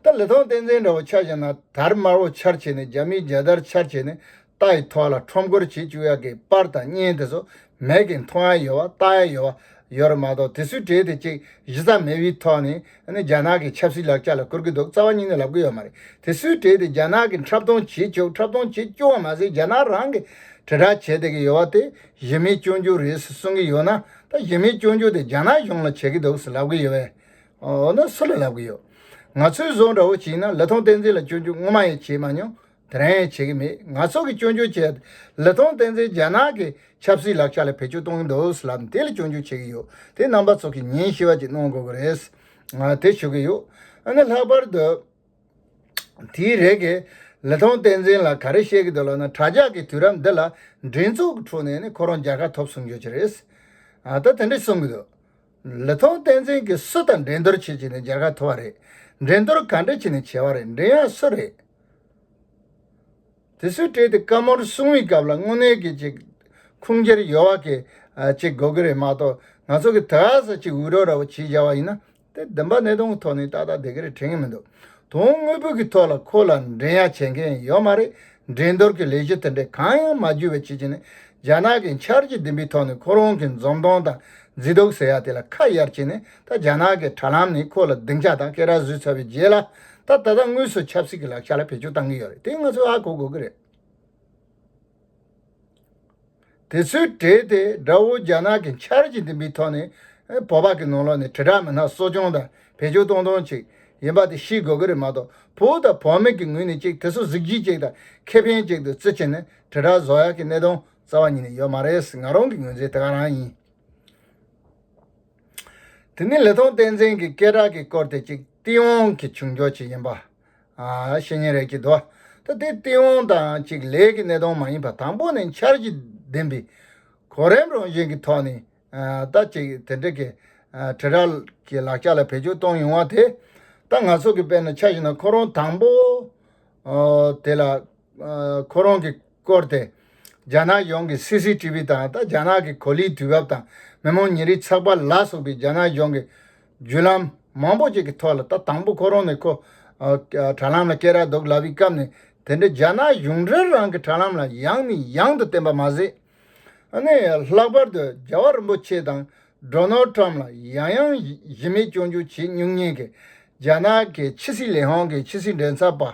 ད་ལི་ཐང་བསྟན་འཛིན་འདྲ་བོ་ཆགས་བཞིན་ན་དར་དམར་བོ་འཕྱར་བྱས་ནས་རྒྱ་མིའི་རྒྱལ་དར་འཕྱར་བྱས་ནས་རྟ་ཡི་ཐོག་ལ་ཁྲོམ་སྐོར་བྱེད་བཅུག་ཡག་གི་པར་དང་བརྙན་དེ་ཚོ་མེད་གི་མཐོང་ཡ་ཡོད་བ་ལྟ་ཡ་ཡོད་བ་ཡོད་རེད་མ་གཏོགས་དེ་སུས་བྲིས་དེ་གཅིག་གཞི་རྩ་མེད་བིས་ཐོག་ནས་རྒྱ་ནག་གི་ཆབ་སྲིད་ལག་ཆ་ལ་བཀུར་གི་འདུག་རྩ་བ་ཉིད་ནས་ལབ་གི་ཡོད་མ་རེད་དེ་སུས་བྲིས་དེ་རྒྱ་ནག་གི་འཁྲབ་སྟོང་བྱེད་ཆོག་འཁྲབ་སྟོང་བྱེད་བཅུག་བ་མ་ཟད་རྒྱ་ནག་རང་གི་དྲིལ་བསྒྲགས་བྱེད་བསྡད་གི་ཡོད་བ་དེ་གཞི་མེད་སྐྱོན་འགྱུར་རེད་ཟེར་གསུང་གི་ཡོད་ན་ད་གཞི་མེད་སྐྱོན་འགྱུར་དེ་རྒྱ་ནག་གཞུང་ལ་བྱེད་གི་འདུག་ཟེར་ལབ་གི་ཡོད་བས་འོ་ན་སུ་ལ་ལབ་གི་ཡོད་ང་ཚོའི་བཟོ་འདྲ་བོ་བྱིན་ན་ལི་ཐང་བསྟན་འཛིན་ལ་སྐྱོན་འགྱུར་ངོ་མ་ཡང་བྱེད་མ་མྱོང་དེ་རང་ཡང་བྱེད་ཀྱི་མེད་ང་ཚོ་གིས་སྐྱོན་བརྗོད་བྱས། ལི་ཐང་བསྟན་འཛིན་རྒྱ་ནག་གི་ཆབ་སྲིད་ལག་ཆ་ལ་བེད་སྤྱོད་གཏོང་གི་འདུག་ལབ་ནས་དེ་ལ་སྐྱོན་བརྗོད་བྱེད་ཀྱི་ཡོད་དེ་རྣམ་པ་ཚོ་གིས་ཉིན་ཞི་བ་ཅིག་གནང་དགོས་ཀྱི་རེད། དེ་ཞུ་གི་ཡོད། ཨ་ནི་ལྷག་པར་དུ། དེའི་རེ་འགས། ལི་ཐང་བསྟན་འཛིན་ལ་ག་རེ་བཤད་ཀྱི་འདུག་ལབ་ན་དྲྭ་ཇག་གིས་དུས་རབས་འདི་ལ་འགྲན་ཚོགས་ཀྱི་ཁྲོད་ནས་ནི་ཁོ་རང་རྒྱལ་ཁ་ཐོབ་གསུང་རྒྱུ་ཅི་རེད། ད་དེ་འདྲ་གསུང་གི་འདུག། ལི་ཐང་བསྟན་འཛིན་གྱིས་སུ་དང་འགྲན་བསྡུར་བྱེད་ཀྱི་ནས་འཇར་ཁ་ཐོ་བ་རེད། འགྲན་བསྡུར་ག་འདྲ་བྱེད་ནས་བྱས་བ་རེད་འགྲན་ཡག་སུ་རེད། དེ་སུས་སྤྲད་དེ་བཀའ་མོར་སྲུང་བའི་སྐབས་ལ་དངོས་གནས་གྱི་ཅིག་ཁུངས་འཁྱེར་ཡོད་བ་གི་ཅིག་དགོས་གི་རེད་མ་གཏོགས་ང་ཚོ་གི་དྷ་ས་ཅིག་འུད་རོགས་ར་བོ་བྱེད་བཞག་བ་ཡིན་ན་དེ་བདུན་པ་ནད་གདོན་གི་ཐོག་ནས་ཏག་ཏག་བསྡད་གི་རེད་དྲན་གི་མི་འདུག། དོན་དངོས་བོད་ཀྱི་ཐོག་ལ་ཁོ་ལ་འགྲན་ཡ་བྱེད་མཁན་ཡོད་མ་རེད། འགྲན་བསྡུར་གྱི་ལས་གཞི་དེ་འདྲས་གང་ཡང་མ་བརྒྱུད་པའི་ཆེ་ཆེ་ནས་རྒྱ་ནག་གི་འཆར་གཞི་བདུན་པའི་ཐོག་ནས་ཁོ་རང་གི་འཛུམ་མདངས་དང་མཛེས་སྡུག་ཟེར་ཡ་དེ་ལ་ཁ་གཡར་བྱས་ནས་ད་རྒྱ་ནག་གི་དྲ་ལམ་ནས་ཁོ་ལ་སྡིངས་ཆ་དང་སྐེ་རགས་བཟོས་ཚར་བའི་རྗེས་ལ་ད་ད་ལྟ་དངོས་སུ་ཆབ་སྲིད་ཀྱི་ལག་ཆ་ལ་བེད་སྤྱོད་བཏང་གི་ཡོད་རེད་དེ་ང་ཚོས་ཧ་གོ་དགོས་ཀྱི་རེད། དེ་ཚོའི་གྲས་དེ་དགྲ་བོ་རྒྱ་ནག་གི་འཆར་གཞི་འདི་འདི་ཐོག་ནས་བོད་པ་གི་ནང་ལོག་ནས་དྲིལ་བསྒྲགས་མི་སྣ་གསོ་སྐྱོང་དང་བེད་སྤྱོད་གཏོང་གཏོང་ཅིག་ཡིན་པ་དེ་ཤེས་དགོས་ཀྱི་རེད་མ་གཏོགས་བོད་དང་བོད་མི་གི་ངོས་ནས་ཅིག་དེ་ཚོ་གཟིགས་གཞི་ཅིག་དང་ཁེ་ཕན་ཅིག་ཏུ་བརྩི་ཆེད་ནས་དྲིལ་བསྒྲགས་བཟོ་ཡག་གི་གནད་དོན་རྩ་བ་ཉིད་ནས་ཡོད་མ་རེད་ང་རང་གི་ངོས་འཛིན་དེ་ག་རང་ཡིན། དེ་ནི་ལི་ཐང་བསྟན་འཛིན་གི་སྐད་གྲགས་ཀྱི་སྐོར་དེ་ཅིག་སྟེས་དབང་གི་བྱུང་ཕྱོགས་ཅིག་ཡིན་པ། བཤེས་གཉེན་རལ་གྱི་བདུད། ད་དེ་སྟེས་འོང་དང་གཅིག་ལས་ཀྱི་གནས་སྟོང་མ་ཡིན་པ་དང་པོ་ནི་འཆར་གྱི་བདེན་པའི་གོ་རིམ་རང་བཞིན་གྱི་ཐོག་ནས་ད་ཅིག་དེ་འདྲ་གི་དྲི་ར་གི་ལག་ཆ་ལ་བེད་སྤྱོད་གཏོང་ཡོང་བ་དེ་ད་ང་སོགས་ཀྱི་དཔེར་ན་ཆ་ཞིག་ན་ཁོ་རང་དང་པོ་དེ་ལ་ཁོ་རང་གི་སྐོར་དེ་རྒྱ་ནག་གཞུང་གི་སི་སི་ཏི་བི་དང་ད་རྒྱ་ནག་གི་གོ་ལིའི་དུས་བབ་དང་མི་མང་ཉིན་རེའི་ཚགས་པར་ལ་སོགས་པའི་རྒྱ་ནག་གཞུང་གི། བརྒྱུད་ལམ་མང་པོ་ཞིག་གི་ཐོག་ལ་ད་དང་པོ་ཁོ་རང་ནས་ཁོ། དྲ་ལམ་ལ་སྐད་རགས་འདོགས་ལབ་ཡི་སྐབས་ནས་དེ་འདྲའི་རྒྱ་ནག་གཞུང་འབྲེལ་རང་གི་དྲ་ལམ་ལ་ཡང་ནས་ཡང་དུ་བསྟན་པ་མ་ཟད། ནས་ལྷག་པར་དུ་རྒྱལ་བ་རིན་པོ་ཆེ་དང Donald Trump ལ་ཡང་ཡང་གཞི་མེད་སྐྱོན་བརྗོད་བྱེད་སྙུག་ཉེན་གྱི་རྒྱ་ནག་གི་ཕྱི་སྲིད་ལས་ཧང་གི་ཕྱི་སྲིད་འབྲེལ་ཚབ་པ།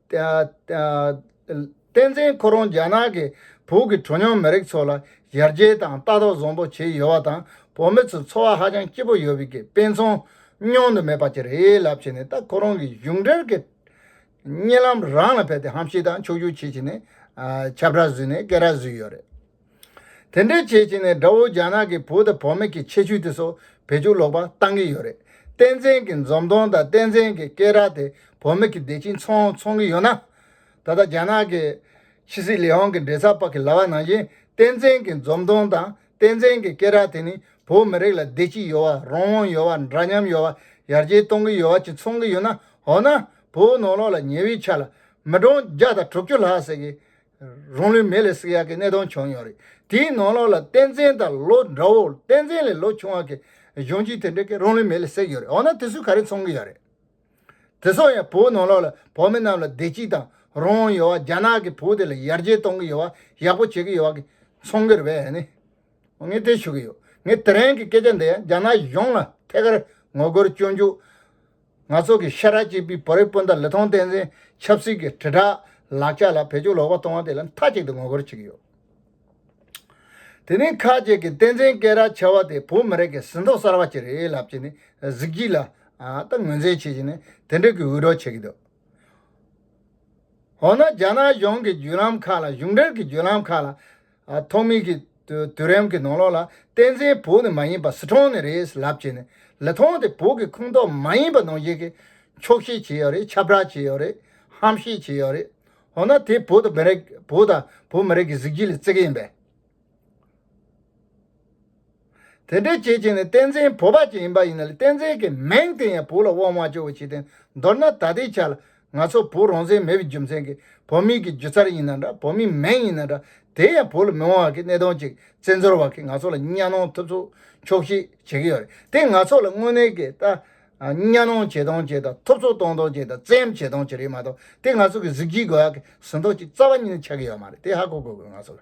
བསྟན་འཛིན་ཁོ་རང་རྒྱ་ནག་གི་བོད་ཀྱི་གྲོ་ཉོག་མི་རིགས་ཚོ་ལ་ཡར་རྒྱས་དང་ལྟ་རྟོག་བཟང་པོ་བྱས་ཡོད་པ་དང་བོད་མི་ཚོའི་འཚོ་བ་ཧ་ཅང་སྐྱིད་པོ་ཡོད་པའི་དཔེ་མཚོན་མྱོང་དུ་མེད་པ་ཅི་རེད་ལབ་བྱས་ནས་ད་ཁོ་རང་གི་གཞུང་འབྲེལ་གྱི་བརྙན་ལམ་རང་ལ་ཕེབས་ཏེ་ཧམ་བཤད་དང་ཕྱོགས་བསྒྱུར་བྱེད་བྱས་ནས་ཁྱབ་བསྒྲགས་བཟོས་ནས་སྐད་རགས་བཟོས་ཡོད་རེད། དེ་འདྲའི་བྱས་བྱས་ནས་དགྲ་བོ་རྒྱ་ནག་གི་བུ་དང་བུ་མེད་ཀྱི་ཆེ་ཆུང་དེ་ཚོ་བེད་སྤྱོད་ལོག་པ་བཏང་གི་ཡོད་རེད་བསྟན་འཛིན་གྱི་འཛུམ་མདོང་དང་བསྟན་འཛིན་གྱི་སྐད་རགས་དེ་བུ་མེད་ཀྱི་བདེ་སྐྱིད་ཚོང་ཚོང་གི་ཡོད་ན། ད་ལྟ་རྒྱ་ནག་གི་ཕྱི་སྲིད་ལས་དབང་གི་འབྲེལ་ཚགས་པ་གི་ལྭ་བ་ནང་བཞིན་བསྟན་འཛིན་གྱི་འཛུམ་མདོང་དང་བསྟན་འཛིན་གྱི་སྐད་རགས་དེ་ནི་བོད་མི་རིགས་ལ་བདེ་སྐྱིད་ཡོད་བ་རང་དབང་ཡོད་བ་འདྲ་མཉམ་ཡོད་བ་ཡར་རྒྱས་གཏོང་གི་ཡོད་བ་གྱི་ཚོང་གི་ཡོད་ན་འོ་ན་བོད་ནོར་ལོག་ལ་ཉེ་བའི་ཆ་ལ་མི་གྲངས་བརྒྱ་དང་དྲུག་ཅུ་ལྷག་ཟེར་གི་རང་ལུས་མེ་ལས་བསྲེགས་ཡག་གི་གནས་སྟངས་བྱུང་མྱོང་རེད་དེའི་ནང་ལོགས་ལ་བསྟན་འཛིན་དང་ལོ་འདྲ་བོ་བསྟན་འཛིན་ལས་ལོ་ཆུང་བ་གི་གཞོན་སྐྱེས་དེ་འདྲ་གི་རང་ལུས་མེ་ལས་བསྲེགས་ཡོད་རེད་འོ་ན་དེ་ཚོས་ག་རེ་འཚོང་གི་ཡོད་རེད་དེ་སོགས་ཡང་བོད་ནང་ལོགས་ལ་བོད་མི་རྣམས་ལ་བདེ་སྐྱིད་དང་རང་དབང་ཡོད་བ་རྒྱ་ནག་གི་བོད་དེ་ལ་ཡར་རྒྱས་གཏོང་གི་ཡོད་བ་ཡག་པོ་བྱེད་གི་ཡོད་བ་གི་འཚོང་གི་རེད་བས་ནི་ངས་དེ་ཞུ་གི་ཡོད་ངས་དེ་རིང་གི་སྐད་ཆ་འདི་ཡང་རྒྱ་ནག་གཞུང་ལ་ཐད་ཀར་ངོ་རྒོལ་བསྐྱོན་རྒྱུ། ང་ཚོ་གི་ཤ་ཁྲག་གཅིག་པུའི་བོད་རིགས་སྤུན་ཟླ་ལི་ཐང་བསྟན་འཛིན་ཆབ་སྲིད་ཀྱི་དྲིལ་བསྒྲགས་ལག་ཆ་ལ་བེད་སྤྱོད་ལོག་པ་གཏོང་བ་དེ་ལ་མཐའ་གཅིག་ཏུ་ངོ་རྒོལ་བྱེད་ཀྱི་ཡོད། དེ་རིང་ཁག་བཅས་ཀྱིས་བསྟན་འཛིན་སྐད་རགས་འཆའ་བ་དེ་བོད་མི་རིགས་ཀྱི་ཟིན་ཐོ་གསར་བ་ཅིག་རེད་ལབ་ཀྱི་ནི་གཟིགས་གྱི་ལ། ད་ངོས་འཛིན་བྱེད་ཀྱི་ནི་དེ་འདྲ་གི་འུད་སྒྲོག་བྱེད་ཀྱི་འདུག་འོ་ན་རྒྱ་ནག་གཞུང་གི་བརྒྱུད་ལམ་ཁག་ལ་གཞུང་འབྲེལ་གྱི་བརྒྱུད་ལམ་ཁག་ལ། ཐོག་མེད་ཀྱི་དུས་རིམ་གྱི་ནང་ལོགས་ལ་བསྟན་འཛིན་བོད་ནས་མ་ཡིན་པ་ཟི་ཁྲོན་ནས་རེད་ལབ་བྱས་ནས་ལི་ཐང་དེ་བོད་ཀྱི་ཁུངས་གཏོགས་མ་ཡིན་པ་ནང་བཞིན་གྱི་འཁྱོག་བཤད་བྱས་ཡོད་རེད་ཁྱབ་བསྒྲགས་བྱས་ཡོད་རེད་ཧམ་བཤད་བྱས་ཡོད་རེད་འོ་ན་དེ་བོད་དང་བོད་མི་རིགས་ཀྱི་གཟིགས་ཞིབ་ལ་བརྩི་གི་ཡིན་པས། དེ་འདྲའི་བྱེད་བྱེད་ནི་བསྟན་འཛིན་བོ་པ་ཅིག་ཡིན་པ་ཡིན་ན་ལས་བསྟན་འཛིན་གྱི་མིང་དེ་ཡང་བུ་ལ་དབང་བ་ཅོ་བོ་བྱས་ཏེ་འདོར་ན་ད་ལྟའི་ཆ་ལ་ང་ཚོ་བུ་རང་བཙན་མེད་པའི་རྒྱུ་མཚན་གྱིས་བོད་མིང་གི་སྒྱུ་རྩལ་ཡིན་ན་འདྲ་བོད་མིའི་མིང་ཡིན་ན་འདྲ་དེ་ཡང་བུ་ལ་མི་དབང་བ་གི་གནས་སྟངས་ཅིག་བཙན་འབྱོར་བ་གིས་ང་ཚོ་ལ་གཉའ་གནོང་ཐུབ་ཚུགས་ཆོག་ཤེས་བྱེད་ཀྱི་ཡོད་རེད་དེ་ང་ཚོ་ལ་དངོས་གནས་ཀྱི་ད་གཉའ་གནོང་བྱེད་སྟངས་ཅིག་དང་ཐུབ་ཚུགས་གཏོང་སྟངས་ཅིག་དང་བཙན་བྱེད་སྟངས་ཅིག་རེད་མ་གཏོགས་དེ་ང་ཚོ་གི་གཟི་བརྗིད་དགོས་ཡག་གི་ཟིན་ཐོ་ཅིག་རྩ་བ་ཉིད་ནས་ཆགས་ཀྱི་ཡོད་མ་རེད་དེ་ཧ་གོ་དགོས་གི་ང་ཚོ་ལ།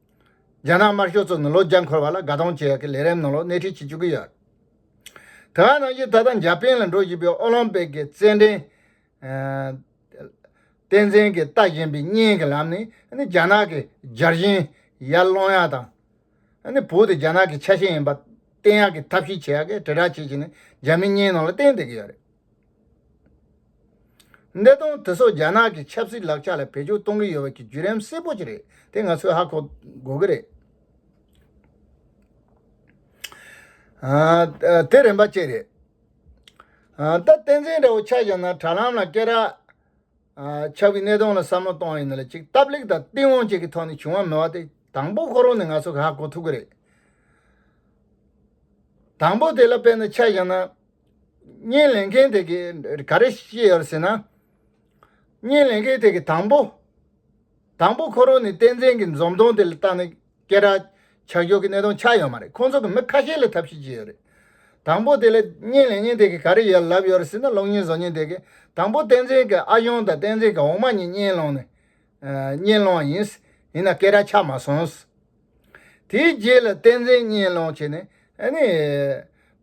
རྒྱ་ནག་དམར་ཤོག་ཚོ་ནི་ལོ་བརྒྱ་འཁོར་བ་ལ་དགའ་གཏོང་བྱེད་ཀྱི་ལས་རིམ་ནང་ལོག་སྣེ་ཁྲིད་བྱེད་བཅུག་གི་ཡོད། དེ་བ་ནང་བཞིན་ད་ལྟ་འཇར་པན་ལ་འགྲོ་བཞིན་པའི་ཨོ་ལོམ་པིག་གི་རྩེད་འགྲན། བསྟན་འཛིན་གྱིས་ལྟ་བཞིན་པའི་བརྙན་གྱི་ལམ་ནས་རྒྱ་ནག་གི་འཇར་ཞིན་ཡར་སློང་ཡག་དང། བོད་དེ་རྒྱ་ནག་གི་ཆ་ཤས་ཡིན་པ་བསྟན་ཡག་གི་ཐབས་ཤེས་བྱེད་ཡག་གི་དྲིལ་བསྒྲགས་བྱེད་བཞིན་ནས་འཇར་མན་གཉིས་ནང་ལ་བསྟན་བསྡད་ཀྱི་ཡོད་རེད། གནད་དོན་དེ་ཚོ་རྒྱ་ནག་གི་ཆབ་སྲིད་ལག་ཆ་ལ་བེད་སྤྱོད་གཏོང་གི་ཡོད་པ་གྱི་བརྒྱུད་རིམ་གསལ་པོ་ཅིག་རེད་དེ་ང་ཚོས་ཧ་གོ་དགོས་ཀྱི་རེད། དེ་རིམ་པ་གཅིག་རེད། ད་བསྟན་འཛིན་འདྲ་བོ་ཆགས་ཀྱང་ན་དྲ་ལམ་ལ་སྐད་གྲགས་ཆགས་པའི་གནད་དོན་ལ་བསམ་བློ་གཏོང་ཡི་ན་ལ་ཅིག་སྟབས་ལེགས་དང་སྟེས་དབང་བཅས་ཀྱི་ཐོག་ནས་བྱུང་བ་མིན་བ་དེ་དང་པོ་ཁོ་རང་ནས་ང་ཚོས་ཧ་གོ་ཐུབ་ཀྱི་རེད། དང་པོ་དེ་ལ་དཔེར་ན་ཆགས་ཀྱང་ན། བརྙན་ལེན་མཁན་དེ་གའི་ག་རེ་ཤེས་ཡོད་ཟེར་ན། བརྙན་ལེན་མཁན་དེ་གའི་དང་པོ། དང་པོ་ཁོ་རང་ནི་བསྟན་འཛིན་གྱི་འཛུམ་མདངས་དེ་ལ་བརྟགས་ནས་སྐད་གྲགས་ཆགས་རྒྱུ་གི་གནད་དོན་ཆགས་ཡོད་མ་རེད་ཁོང་ཚོ་གི་མི་ཁ་ཤས་ལ་ཐབས་ཤེས་ཅི་ཡོད་རེད། དང་པོ་དེ་ལ་བརྙན་ལེན་མཁན་དེ་གའི་ག་རེ་ཡོད་ལབ་ཡོད་ཟེར་ན་གློག་བརྙན་བཟོ་མཁན་དེ་གའི་དང་པོ་བསྟན་འཛིན་གྱི་ཨ་གཞོན་དང་བསྟན་འཛིན་གྱི་འོག་མ་གཉིས་བརྙན་སློང་ནས་བརྙན་སློང་བ་ཡིན། ཡིན་ན་སྐད་གྲགས་ཆགས་མ་སོང། དེའི་རྗེས་ལ་བསྟན་འཛིན་བརྙན་སློང་བྱས་ནས་ཨ་ནི།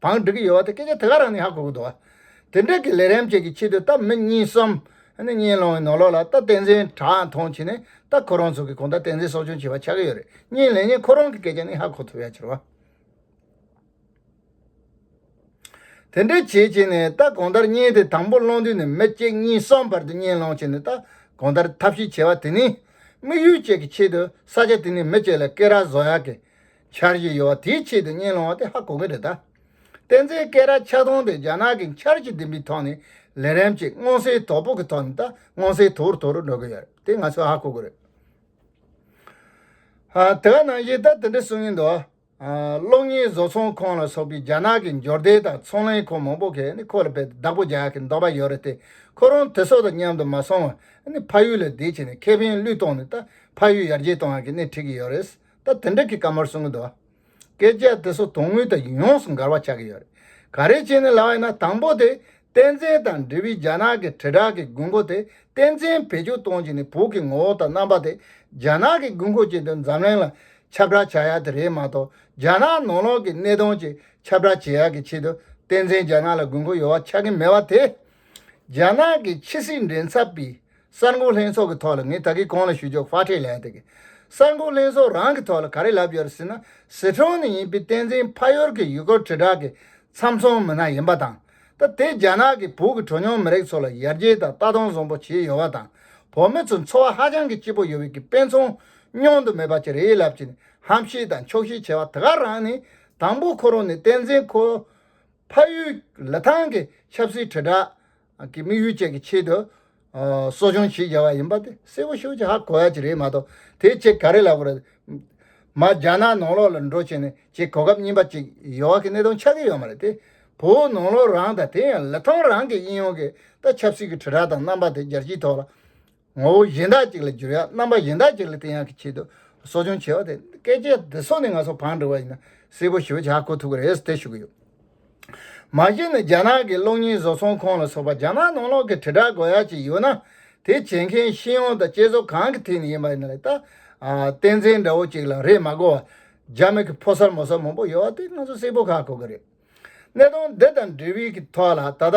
བང་སྒྲིག་གི་ཡོད་བ་དེ་སྐད་ཆ་དེ་ག་རང་ནས་ཧ་གོ་གི་འདུག་དེ་འདྲས་ཀྱི་ལས་རེམ་བྱེད་ཀྱི་ཆེད་དུ་ད་མི་གཉིས་གསུམ། གཉེན་སློང་གི་ནོར་ལོག་ལ་ད་བསྟན་འཛིན་གྲགས་མཐོང་བྱས་ནས་ད་ཁོ་རང་ཚོ་གི་གོང་ད་བསྟན་འཛིན་གསོ་སྐྱོང་བྱེད་པ་ཆགས་ཀྱི་ཡོད་རེད་གཉིས་ལས་གཉིས་ཁོ་རང་གི་སྐད་ཆ་ནས་ཧ་གོ་ཐུབ་ཡ་ཆེར་བ། དེ་འདྲས་བྱས་བྱས་ནས་ད་གོང་དར་གཉེན་དེ་དང་པོ་སློང་དུས་ནས་མི་གཅིག་གཉིས་གསུམ་བར་དུ་གཉེན་སློང་བྱས་ནས་ད་གོང་དར་ཐབས་ཤེས་བྱས་བ་དེ་ནི། དམིགས་ཡུལ་བཅས་ཀྱི་ཆེད་དུ་ས་ཆ་དེ་ནས་མི་བཅས་ལ་སྐེ་རགས་བཟོ་ཡག་གི། འཆར་གཞི་ཡོད་པ་དེའི་ཆེད་དུ་བརྙན་སློང་བ་དེ་ཧ་གོ་གི་རེད་ད། བསྟན་འཛིན་སྐེ་རགས་ཆག་སྡོང་དེ་རྒྱ་ནག་གི་འཆར་གཞི་འདི་འདྲའི་ཐོག་ནས་ལས་རན་ཅིག་སྔོན་བསྲེས་དོག་པོ་གི་ཐོག་ནས་ད་སྔོན་བསྲེས་དོག་རུ་དོག་རུ་འགྲོ་གི་ཡོད་རེད་དེ་ང་ཚོས་ཧ་གོ་གི་རེད། དེ་ག་ནང་བཞིན་ད་དེ་འདྲ་གསུང་གི་འདུག་གློག་བརྙན་བཟོ་ཚོང་ཁང་ལ་སོགས་པའི་རྒྱ་ནག་གི་འབྱོར་ལྡན་དང་ཚོང་ལས་ཁང་མང་པོ་གིས་ཁོ་ལ་བལ་བདག་པོ་རྒྱག་གི་འདོག་པ་ཡོད་རེད་དེ་ཁོ་རང་དེ་སོགས་དང་མཉམ་དུ་མ་སོང་བར་ཕ་ཡུལ་ལ་བསྡད་ཕྱིན་ནས་ཁེ་ཕན་བློས་གཏོང་ནས་ད་ཕ་ཡུལ་ཡར་རྒྱས་གཏོང་བར་གྱི་སྣེ་ཁྲིད་ཀྱི་ཡོད་རེད། ད་དེ་འདྲ་གི་བཀའ་མོལ་གསུང་གི་འདུག་བ། སྐད་ཆ་དེ་ཚོ་དོན་དངོས་དང་ཡོངས་སུ་འགལ་བ་ཆགས་ཀྱི་ཡོད་རེད། ག་རེ་བྱས་ནས་ལགས་ཡིན་ན་དང་པོ་དེ་བསྟན་འཛིན་དང་འབྲེལ་བའི་རྒྱ་ནག་གི་དྲིལ་བསྒྲགས་ཀྱི་དགོས་མཁོ་དེ་བསྟན་འཛིན་བེད་སྤྱོད་གཏོང་བྱས་ནས་བོད་ཀྱི་ངོ་བོ་དང་རྣམ་པ་དེ་རྒྱ་ནག་གི་དགོས་མཁོ་བྱས་དོན་འཛམ་གླིང་ལ་ཁྱབ་བསྒྲགས་བྱ་ཡག་དེ་རེད་མ་གཏོགས་རྒྱ་ནག་ནང་ལོགས་ཀྱི་གནད་དོན་ཅིག་ཁྱབ་བསྒྲགས་བྱེད་ཡག་གི་ཆེད་དུ་བསྟན་འཛིན་རྒྱ་ནག་ལ་དགོས་མཁོ་ཡོད་བ་ཆགས་ཀྱི་མེད་བ་དེ། རྒྱ་ནག་གི་ཕྱི་སྲིད་འབྲེལ་འཚབ་པའི། གསར་འགོད་ལྷན་ཚོགས་ཀྱི་ཐོག་ལ་ངས་ད་གིན་གང་ལ་ཞུ་ཆོག་ཧྥ་ཁྲེ་ལན་ཏེ་གིས། གསར་འགོད་ལྷན་ཚོགས་རང་གི་ཐོག་ལ་ག་རེ་ལབ་ཡོད་རེད་ཟེར་ན་ཟི་ཁྲོན་ནས་ཡིན་པའི་བསྟན་འཛིན་ཕ་ཡུལ་གྱི་ཡུལ་སྐོར་དྲིལ་བསྒྲགས་ཀྱི་ཚམ་ཚོམ་མི་སྣ་ཡིན་པ་དང། ད་དེ་རྒྱ་ནག་གིས་བོད་ཀྱི་གྲོ་ཉོང་མི་རིགས་ཚོ་ལ་ཡར་རྒྱས་དང་ལྟ་སྟངས་བཟང་པོ་བྱས་ཡོད་པ་དང་བོད་མི་ཚོ་འཚོ་བ་ཧ་ཅང་གི་སྐྱིད་པོ་ཡོད་པའི་གི་དཔེ་མཚོན་མྱོང་དུ་མེད་པ་ཅི་རེད་ལབ་ཀྱིན་ཧམ་བཤད་དང་འཁྱོག་བཤད་བྱས་པ་དེ་ག་རང་ནས་དང་པོ་ཁོ་རང་ནས་བསྟན་འཛིན་ཁོའི་ཕ་ཡུལ་ལི་ཐང་གི་ཆབ་སྲིད་དྲིལ་བསྒྲགས་གི་དམིགས་ཡུལ་བཅས་ཀྱི་ཆེད་དུ། གསོ་སྦྱོང་བྱེད་བཞག་པ་ཡིན་པ་དེ་གསལ་བོ་ཤོད་ཀྱི་ཧ་གོ་ཡ་གྱི་རེད་མ་གཏོགས་དེ་བྱས་ག་རེ་ལ་དགོས་རེད། མ་རྒྱ་ནག་ནང་ལོགས་ལ་འགྲོ་བྱས་ནས་ཀྱི་གོ་སྐབས་རྙིང་པ་ཅིག་ཡོད་ཨ་གི་གནད་དོན་ཆགས་ཀྱི་ཡོད་མ་རེད་དེ། བོད་ནང་ལོགས་རང་དང་དེ་ཡང་ལི་ཐང་རང་གི་དབྱིན་ཡོང་གི་ད་ཆབ་སྲིད་ཀྱི་དྲིལ་བསྒྲགས་དང་རྣམ་པ་དེ་རྒྱལ་སྤྱིའི་ཐོག་ལ། ངོ་བོ་གཞན་དག་ཅིག་ལ་སྦྱོར་ཡང་རྣམ་པ་གཞན་དག་ཅིག་ལ་བསྟན་ཡང་གི་ཆེད་དུ་གསོ་སྦྱོང་བྱེད་པ་དེ་སྐད་ཆའི་བདེ་སོགས་ནི་ང་ཚོ་བང་སྒྲིག་པ་ཡིན་ན་གསལ་པོ་ཞུ་བྱ་ཁོ་ཐུག་གི་རེད་དེ་ཞུ་གི་ཡོད། མ་གཞི་ནི་རྒྱ་ནག་གི་གློག་བརྙན་བཟོ་ཚོང་ཁང་ལ་སོགས་པ་རྒྱ་ནག་ནང་ལོག་གི་དྲིལ་བསྒྲགས་དགོས་ཡ་ཅིག་ཡོད་ན་དེ་བྱེད་མཁན་ཤེས་ཡོན་དང་བསྐྱེད་རྫོགས་གང་གི་ཐད་ནས་ཡིན་པ་ཡིན་ལ་ད་བསྟན་འཛིན་འདྲ་བོ་ཅིག་ལ་རེས་མ་གོ་བར་རྒྱ་མི་གི་ཕོ་སར་མོ་སར་མང་པོ་ཡོད་བ་དེ་ང་ཚོ་གསལ་པོ་ཤ་གོ་གི་རེད། གནད་དོན་འདི་དང་འབྲེལ་བའི་གི་ཐོག་ལ་ད་ལྟ།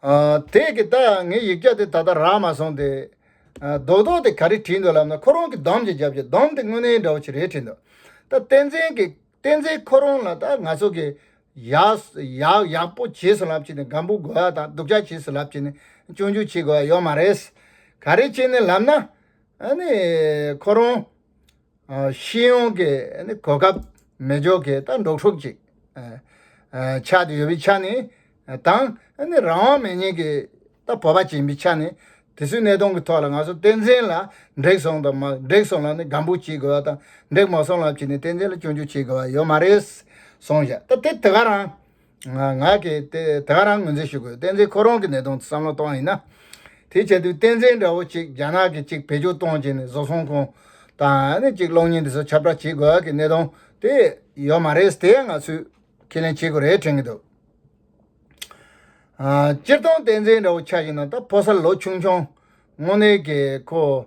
དེས་ཀྱི་ད་ཡང་ངའི་ཡིག་བརྒྱ་དེ་ད་ལྟ་རག་མ་སོང་སྟེ། རྡོག་རྡོག་དེ་ག་རེ་བྲིས་འདུག་ལབ་ན་ཁོ་རང་གི་འདོམས་ཀྱི་རྒྱབ་ཀྱི་འདོམས་དེ་དངོས་གནས་འདྲ་བོ་ཆེ་རེ་བྲིས་འདུག་ད་བསྟན་འཛིན་གྱི་བསྟན་འཛིན་ཁོ་རང་ལ་ད་ང་ཚོ་གི་ཡག་ཡག་པོ་བྱེས་སུ་ལབ་ཅིག་ནི་སྒམ་པོ་དགོས་ཡ་དང་སྡུག་ཅག་བྱེས་སུ་ལབ་ཅིག་ནི་སྤྱོད་འཇུག་བྱེས་དགོས་ཡ་ཡོད་མ་རེད། ག་རེ་བྱེས་ནི་ལབ་ན་ཨ་ནི་ཁོ་རང། ཤེས་ཡོན་གྱི་གོ་སྐབས་མེད་ཕྱོགས་ཀྱི་ལྟ་འདོགས་ཤོག་ཅིག། ཆགས་ཏེ་ཡོད་པའི་ཆ་ནས་དང། རང་དབང་མེད་མྱིན་གྱི་ལྟ་བོད་པ་བྱིན་པའི་ཆ་ནས་དེ་ཚོའི་གནད་དོན་གྱི་ཐོག་ལ་ང་ཚོ་བསྟན་འཛིན་ལ་འགྲིག་སོང་དང་མ་འགྲིག་སོང་ལ་ནི་སྒམ་པོ་བྱེད་དགོས་པ་དང་འགྲིག་མ་སོང་ལ་བྱས་ནས་བསྟན་འཛིན་ལ་སྐྱོན་བརྗོད་བྱེད་དགོས་པ་ཡོད་མ་རེད། སོང་ཞག་ད་དེ་དེ་ག་རང། ང་གིས་དེ་ག་རང་ངོས་འཛིན་ཞུ་དགོས་བསྟན་འཛིན་ཁོ་རང་གི་ནད་དུག་བསམ་བློ་གཏོང་ཡིན་ན། དེ་བྱ་དུས་བསྟན་འཛིན་འདྲ་བོ་གཅིག་རྒྱ་ནག་གིས་གཅིག་བེད་སྤྱོད་གཏོང་བྱས་ནས་བཟོ་ཚོང་ཁང་དང་གཅིག་གློག་བརྙན་འདི་ཚོ་ཁྱབ་བསྒྲགས་བྱེད་དགོས་ཀྱི་གནད་དོན་དེ་ཡོད་མ་རེད་དེ་ང་ཚོས་ཁས་ལེན་བྱེད་དགོས་རེད་དྲན་གྱི་འདུག་སྤྱིར་བཏང་བསྟན་འཛིན་འདྲ་བོ་ཆགས་ཀྱི་ན་ད་ཕོ་གསར་ལོ་ཆུང་ཆུང་དངོས་གནས་ཀྱི་ཁོ་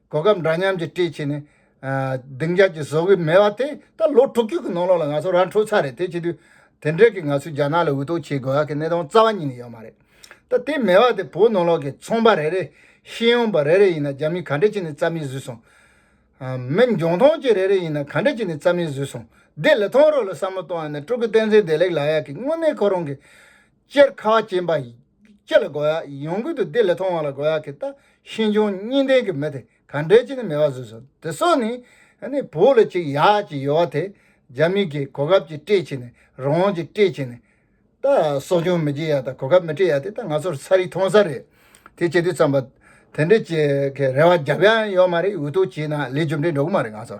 གོ་སྐབས་འདྲ་མཉམ་གྱིས་བཀྲིས་ཆེ་ནས། སྡིངས་ཆ་གྱི་བཟོ་གི་མེད་བ་དེ་ད་ལོ་དྲུག་བཅུ་གི་ནང་ལོགས་ལ་ང་ཚོ་ར་འཕྲོད་ཚར་རེད་དེ་བྱེད་དུས། དེ་འབྲེལ་གྱི་ང་ཚོས་རྒྱ་ནག་ལ་འུད་ཏོག་བྱེད་དགོས་ཡག་གི་གནད་དོན་རྩ་བ་ཉིད་ནས་ཡོད་མ་རེད། ད་དེ་མེད་བ་དེ་བོད་ནང་ལོགས་ཀྱི་ཚོང་པ་རེ་རེ། ཤེས་ཡོན་པ་རེ་རེ་ཡིན་ན་རྒྱ་མིས་ག་འདྲས་བྱས་ནས་རྩ་མེད་བཟོས་སོང། མི་འཇོན་ཐོང་སྐྱེས་རེ་རེ་ཡིན་ན་ག་འདྲས་བྱས་ནས་རྩ་མེད་བཟོས་སོང། བདེ་ལེགས་ཐོང་རོ་ལ་བསམ་བློ་གཏོང་ཡ་ནས་སྤྲུལ་སྐུ་བསྟན་འཛིན་བདེ་ལེགས་ལགས་ཡག་གི་དངོས་གནས་ཁོ་རང་གི། སྤྱིར་ཁ་བ་ཅན་པ་སྤྱི་ལ་དགོས་ཡ་ཡོང་གི་འདུག་དེ་ལས་མཐོ་བ་ལ་དགོས་ཡ་གི་ད་ཤེས་འབྱུང་གཉིས་ལྡན་གི་མི་དེ་ག་འདྲའི་ཅི་ནི་མེད་པ་བཟོས་སོང་དེ་སོགས་ནི། ནི་བོད་ལ་ཅིག་ཡ་ཅིག་ཡོད་བ་དེ་རྒྱ་མི་གི་གོ་སྐབས་ཅིག་སྤྲད་ཕྱིན་ནི་རང་དབང་ཅིག་སྤྲད་ཕྱིན་ནི། ད་གསོ་སྐྱོང་མི་བྱེད་ཡ་ད་གོ་སྐབས་མི་སྤྲད་ཡ་དེ་ད་ང་ཚོར་ཚ་རིག་ཐོང་ས་རེད་དེ་བྱེད་དུས་ཙམ་པ། དེ་འདྲའི་ཅིག་གི་རེ་བ་རྒྱབ་ཡ་ཡོད་མ་རེད་འུ་ཐུག་བྱས་ན་ལས་རྒྱུ་འབྲས་འགྲོ་གི་མ་རེད་ང་ཚོ།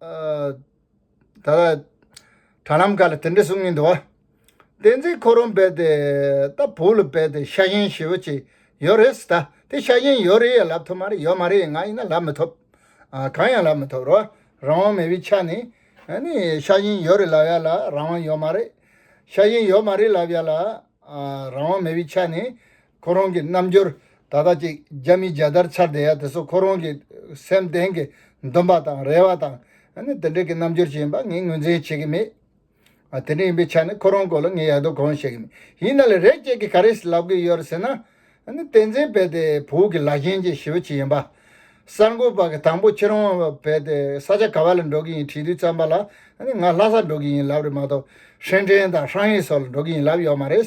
ད་ལ་དྲ་ལམ་ཁག་ལ་དེ་འདྲའི་གསུང་མི་འདུག་བ། བསྟན་འཛིན་ཁོ་རང་བས་ཏེ་ད་བོད་ལ་བས་ཏེ་ཤ་ཞེན་ཞེ་བོ་ཅིག་ཡོད་རེད་ཟེར་ད་དེ་ཤ་ཞེན་ཡོད་རེད་ཡ་ལབ་ཐུབ་མ་རེད་ཡོད་མ་རེད་ང་ཡིན་ན་ལབ་མི་ཐུབ། གང་ཡང་ལབ་མི་ཐུབ་རོགས་རང་དབང་མེད་པའི་ཆ་ནས་ནི་ཤ་ཞེན་ཡོད་རེད་ལབ་ཡ་ལ་རང་དབང་ཡོད་མ་རེད། ཤ་ཞེན་ཡོད་མ་རེད་ལབ་ཡ་ལ་རང་དབང་མེད་པའི་ཆ་ནས་ཁོ་རང་གི་རྣམ་འགྱུར་ད་ལྟ་ཅིག་རྒྱ་མི་རྒྱ་དར་འཕྱར་བསྡད་ཡ་དེ་ཚོ་ཁོ་རང་གི་སེམས་གཏན་གྱི་འདུན་པ་དང་རེ་བ་དང་དེ་འདྲ་གྱི་རྣམ་འགྱུར་ཞིག་ཡིན་པ་ངས་ངོས་འཛིན་བྱེད་ཀྱི་མེད། དེ་འདྲ་ཡིན་པའི་ཆ་ནས་ཁོ་རང་སྐོར་ལ་ངས་ཡག་དོག་གང་བཤད་ཀྱི་མེད། ཡིན་ན་ལ་རས་ཅན་གྱི་ག་རེ་ཞིག་ལབ་གི་ཡོད་རེད་ཟེར་ན། བསྟན་འཛིན་བལ་དེ་བོད་ཀྱི་ལ་ཞེན་གྱི་ཞི་བ་ཅིག་ཡིན་པ། གསར་འགོད་པ་གི་དང་པོ་ཁྱེད་རང་བལ་དེ་ས་ཆ་ག་བ་ལ་འགྲོ་གི་ཡིན་དྲིས་དུས་བརྩམས་པ་ལ་ང་ལྷ་ས་འགྲོ་གི་ཡིན་ལབ་རེད་མ་གཏོགས་ཧྲེན་ཀྲེན་དང་ཧྲང་ཧེ་སོགས་ལ་འགྲོ་གི་ཡིན་ལབ་ཡོད་མ་རེད།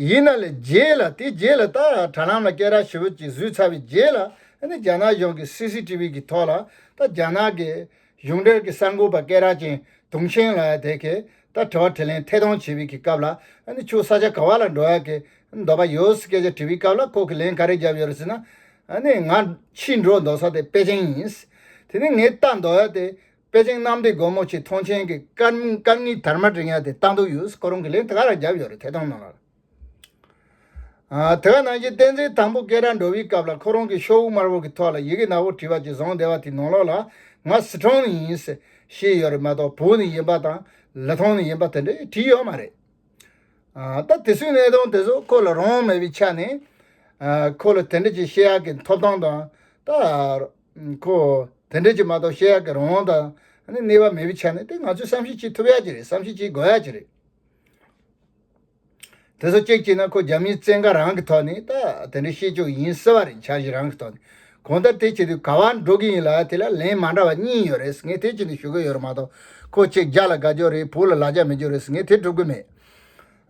ཡིན་ན་ལས་རྗེས་ལ་དེ་རྗེས་ལ་ད་དྲ་ལམ་ལ་སྐད་རགས་ཞི་བོ་ཅིག་བཟོས་ཚར་བའི་རྗེས་ལ་ཨ་ནི་རྒྱ་ནག་གཞུང་གི་སི་སི་ཏི་བི་གི་ཐོག་ལ་ད་རྒྱ་ནག་གི་གཞུང་འབྲེལ་གི་གསར་འགོད་པ་སྐད་རགས་ཅན་དུང་ཤན་ལ་དེ་གས་ད་དྲི་བ་དྲི་ལན་ཐད་གཏོང་བྱེད་པའི་གི་སྐབས་ལ་ཨ་ནི་ཁྱོད་ས་ཆ་ག་བ་ལ་འགྲོ་ཡག་གི་འདོད་པ་ཡོད་ཟེར་སྐད་ཆ་དྲི་བའི་སྐབས་ལ་ཁོ་གི་ལན་ག་རེ་བརྒྱབ་ཡོད་རེད་ཟེར་ན་ཨ་ནི་ང་ཕྱིས་འགྲོ་འདོད་ས་དེ་པེ་ཅིང་ཡིན། དེ་ནི་ངས་ལྟ་འདོད་ཡག་དེ་པེ་ཅིང་གནམ་བདེ་སྒོ་མོ་ཆེའི་ཐོངས་མཆན་གྱི་སྐར་གཉིས་དར་མ་བསྒྲེངས་ཡ་དེ་ལྟ་འདུག་ཡུས་ཀོ་རོང་གིས་ལན་ད་ག་རང་རྒྱབ་ཡོད་རེད་ཐད་གཏོང་གནང་རོགས། དེ་ག་ནང་བཞིན་བསྟན་འཛིན་དང་པོ་སྐད་གྲགས་འགྲོ་བའི་སྐབས་ལ་ཁོ་རང་གིས་ཤོག་དབུ་དམར་བོ་གི་ཐོག་ལ་ཡི་གེ་ནག་པོ་བྲིས་པ་གཅིག་བཟང་བདེ་བ་དེའི་ནང་ལོགས་ལ་ང་སི་ཁྲོན་ནས་ཡིན་ཟེར་ཞེས་ཡོད་རེད་མ་གཏོགས་བོད་ནས་ཡིན་པ་དང་ལི་ཐང་ནས་ཡིན་པ་དེ་འདྲ་ཡང་བྲིས་ཡོད་མ་རེད། ད་དེ་སུའི་གནས་སྟངས་དེ་ཚོ་ཁོ་ལ་རང་དབང་མེད་པའི་ཆ་ནས་ཁོ་ལ་དེ་འདྲ་ཅིག་བཤད་ཡག་གི་འཐོབ་ཐང་དང་ད། ཁོ། དེ་འདྲས་ཀྱི་མ་གཏོགས་བཤད་ཡག་གི་རང་དབང་དང། གནས་བབ་མེད་པའི་ཆ་ནས་དེ་ང་ཚོས་བསམ་གཞིག་བྱེད་ཐུབ་ཡག་གི་རེད་བསམ་གཞིག་བྱེད་དགོས་ཡག་གི་རེད། དེ་སོགས་གཅིག་བྱས་ན་ཁོ་རྒྱ་མིའི་བཙན་བཀའ་རང་གི་ཐོག་ནས་ད་དེ་འདྲས་བཤད་ཆོག་ཡིན་སྲིད་བ་རེད་འཆར་གཞི་རང་གི་ཐོག་ནས་གང་ལྟར་དེ་བྱེད་དུས་ག་བར་འགྲོ་གི་ཡིན་ལ་དེ་ལ་ལན་མ་འདྲ་བ་གཉིས་ཡོད་རེད་ངས་དེ་བྱེད་དུ་ཞུ་གི་ཡོད་རེད་མ་གཏོགས་ཁོ་ཆེ་རྒྱ་ལ་དགའ་རྒྱོ་རེད་བོད་ལ་ལ་རྒྱ་མི་རྒྱོ་རེད་ངས་དེ་སྒྲུབ་གི་མེད།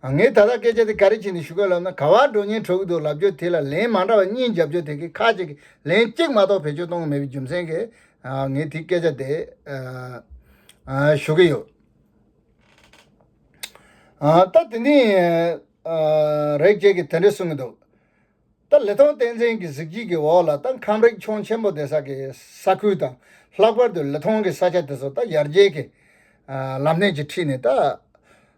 ངས་ད་ལྟ་སྐད་ཆ་དེ་ག་རེ་བྱས་ནས་ཞུ་གི་ལབ་ན་ག་བར་འགྲོ་ཉེན་འཕྲོ་གི་འདུག་ལབ་རྒྱུ་དེ་ལ་ལན་མ་འདྲ་བ་གཉིས་རྒྱབ་རྒྱུ་དེ་གི་ཁ་ཅིག་གིས་ལན་གཅིག་མ་གཏོགས་བེད་སྤྱོད་གཏོང་གི་མེད་པའི་རྒྱུ་མཚན་གིས་ངས་དེ་སྐད་ཆ་དེ་ཞུ་གི་ཡོད། ད་དེ་འདི་ཡིན། རེག་བྱེད་ཀྱིས་དེ་འདྲས་གསུང་གི་འདུག་ད་ལི་ཐང་བསྟན་འཛིན་གྱི་གཟིགས་བརྗིད་ཀྱི་འོག་ལ་ད་ཁམས་རིག་ཆུང་ཆེན་པོ་དེ་ས་གི་ས་ཁུལ་དང་ལྷག་པར་དུ་ལི་ཐང་གི་ས་ཆ་དེ་ཚོ་ད་ཡར་རྒྱས་ཀྱི་ལམ་སྣེ་གྱིས་ཁྲིད་ནས་ད།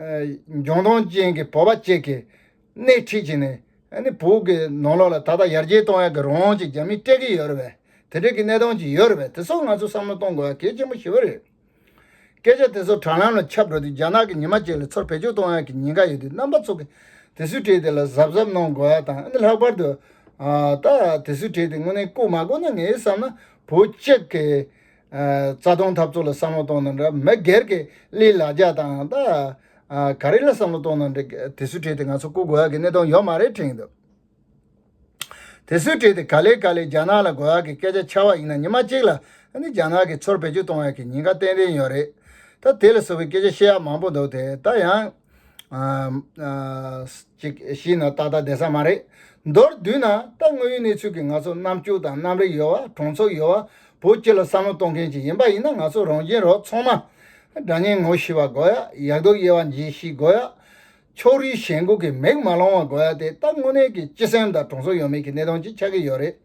ལྗོངས་ཐོངས་ཅན་གྱི་བོད་པ་བཅས་ཀྱིས་སྣེ་ཁྲིད་བྱས་ནས་བོད་ཀྱི་ནང་ལོགས་ལ་ད་ལྟ་ཡར་རྒྱས་གཏོང་ཡག་གི་རང་དབང་ཅིག་རྒྱ་མིས་སྤྲད་ཀྱི་ཡོད་རེད་པས་དེ་འབྲེལ་གྱི་གནས་སྟངས་ཅིག་ཡོད་རེད་པས་དེ་སོགས་ང་ཚོས་བསམ་བློ་གཏོང་དགོས་ཡ་གལ་ཆེན་པོ་ཞིག་རེད། སྐད་ཆ་དེ་ཚོ་དྲ་ལམ་ལ་ཁྱབ་འགྲོ་དུས་རྒྱ་ནག་གི་ཉི་མ་བཅས་ལ་ཚུར་བེད་སྤྱོད་གཏོང་ཡག་གི་ཉེན་ཁ་ཡོད་དུས་རྣམ་པ་ཚོ་གིས་དེ་སུས་བྲིས་དེ་ལ་གཟབ་གཟབ་གནང་དགོས་ཡ་དང་ལྷག་པར་དུ། ད་དེ་སུས་བྲིས་དེ་དངོས་གནས་བཀོད་མ་བཀོད་ནི་ངས་བསམ་ན་བོད་སྤྱི་གི། རྩ་སྟོང་འཐབ་རྩོད་ལ་བསམ་བློ་གཏོང་ན་འདྲ་མི་སྒེར་གྱི་གླའི་ལ་རྒྱ་དང་ད་ག་རེ་ལ་བསམ་བློ་གཏོང་ན་འདྲ་དེ་སུས་བྲིས་ཏེ་ང་ཚོ་སྐུ་དགོས་ཡ་གི་གནད་དོན་ཡོད་མ་རེད་དྲན་འདུག་དེ་སུས་བྲིས་ཏེ་ག་ལེ་ག་ལེ་རྒྱ་ནག་ལ་དགོས་ཡ་གི་སྐད་ཆ་འཆའ་བ་ཡིན་ན་ཉི་མ་གཅིག་ལ་ནི་རྒྱ་ནག་གི་ཚོར་བེད་སྤྱོད་གཏོང་ཡ་གི་ཉེན་ཁ་ཏན་ཏན་ཡོད་རེད་ད་དེ་ལ་བཟོ་བའི་སྐད་ཆ་བཤད་ཡ་མང་པོ་འདུག་དེ་ད་ཡང། ཅིག་ཤི་ན་ཏག་ཏག་བདེ་ས་མ་རེད། མདོར་བསྡུས་ན་ད་དངོས་ཡོད་གནས་ཚུལ་གྱི་ང་ཚོ་རྣམ་སྤྱོད་དང་རྣམ་རིག་ཡོད་བ་གྲོང་ཚོ་ཡོད་བ་བོ་སྤྱི་ལ་བསམ་བློ་གཏོང་མཁན་ཅིག་ཡིན་པ་ཡིན་ན་ང་ཚོ་རང་གཞན་རོགས་ཚོང་མ། དགྲ་གཉེན་ངོ་ཤེས་བ་དགོས་ཡ་ཡག་སྡུག་དབྱེ་བ་འབྱེད་ཤེས་དགོས་ཡ། ཕྱོགས་རིས་གཞན་དགུ་གི་མིག་མ་ལོང་བ་དགོས་ཡ་དེ་ད་དངོས་གནས་ཀྱི་སྤྱི་སེམས་དང་གྲོང་ཚོ་ཡོད་མེད་ཀྱི་གནས་སྟངས་ཅིག་ཆགས་ཀྱི་ཡོད་རེད།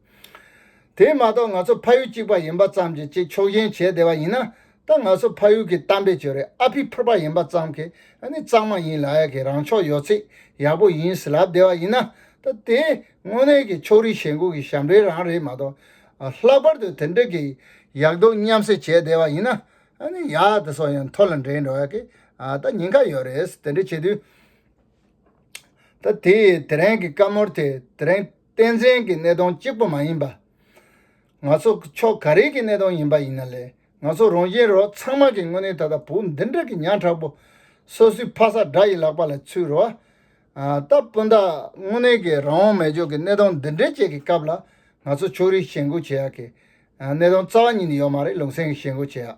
དེ་མ་གཏོགས་ང་ཚོ་ཕ་ཡུལ་གཅིག་པ་ཡིན་པ་ཙམ་གྱིས་ཅིག་ཕྱོགས་ཞེན་བྱས་བསྡད་པ་ཡིན་ན་ད་ང་ཚོ་ཕ་ཡུལ་གྱི་གཏམ་དཔེ་བརྗོད་རེས་ཨ་ཕི་ཕོར་པ་ཡིན་པ་ཙམ་གྱིས་ནི་གཙང་མ་ཡིན་ལགས་ཡ་གི་རང་ཕྱོགས་ཡོད་ཚད་ཡག་པོ་ཡིན་ཟེར་ལབ་བསྡད་བ་ཡིན་ན་ད་དེ་དངོས་གནས་ཀྱི་ཕྱོགས་རིས་ཞེན་ཁུག་གི་ཞབས་འདྲེན་རང་རེད་མ་གཏོགས། ལྷག་པར་དུ་དེ་འདྲ་གི་ཡག་སྡུག་མཉམ་བསྲེ་བྱས་བསྡད་བ་ཡིན་ན་ནི་ཡག་དེ་ཚོ་ཡང་མཐོ་ལ་འགྲེང་འགྲོ་ཡ་གི་ད་ཉེན་ཁ་ཡོད་རེད་དེ་འདྲ་བྱེད་དུས། ད་དེ་དེ་རིང་གི་བཀའ་མོལ་དེ་དེ་རིང་བསྟན་འཛིན་གྱི་གནས་སྟོང་གཅིག་པོ་མ་ཡིན་པ། ང་ཚོ་ཕྱོགས་ག་རེ་གི་གནས་སྟངས་ཡིན་པ་ཡིན་ན་ལས་ང་ཚོ་རང་གཞན་རོ་ཚང་མ་གི་དངོས་གནས་ད་ལྟ་བོུ་འདི་འདྲ་གི་ཉག་ཕྲ་པོ་སོ་སོའི་ཕ་ས་དགྲ་ཡི་ལག་པ་ལ་ཚུད་རོ། སྟབས་སྤུན་ཟླ་དངོས་གནས་གི་རང་དབང་མེད་ཕྱོགས་གི་གནས་སྟངས་འདི་འདྲའི་ཅད་གི་སྐབས་ལ་ང་ཚོ་ཕྱོགས་རིས་ཞེན་གོ་བྱེད་ཡག་གི་གནས་སྟངས་རྩ་བ་ཉིད་ནས་ཡོད་མ་རེད་ལུང་སེང་གི་ཞེན་གོ་བྱེད་ཡག།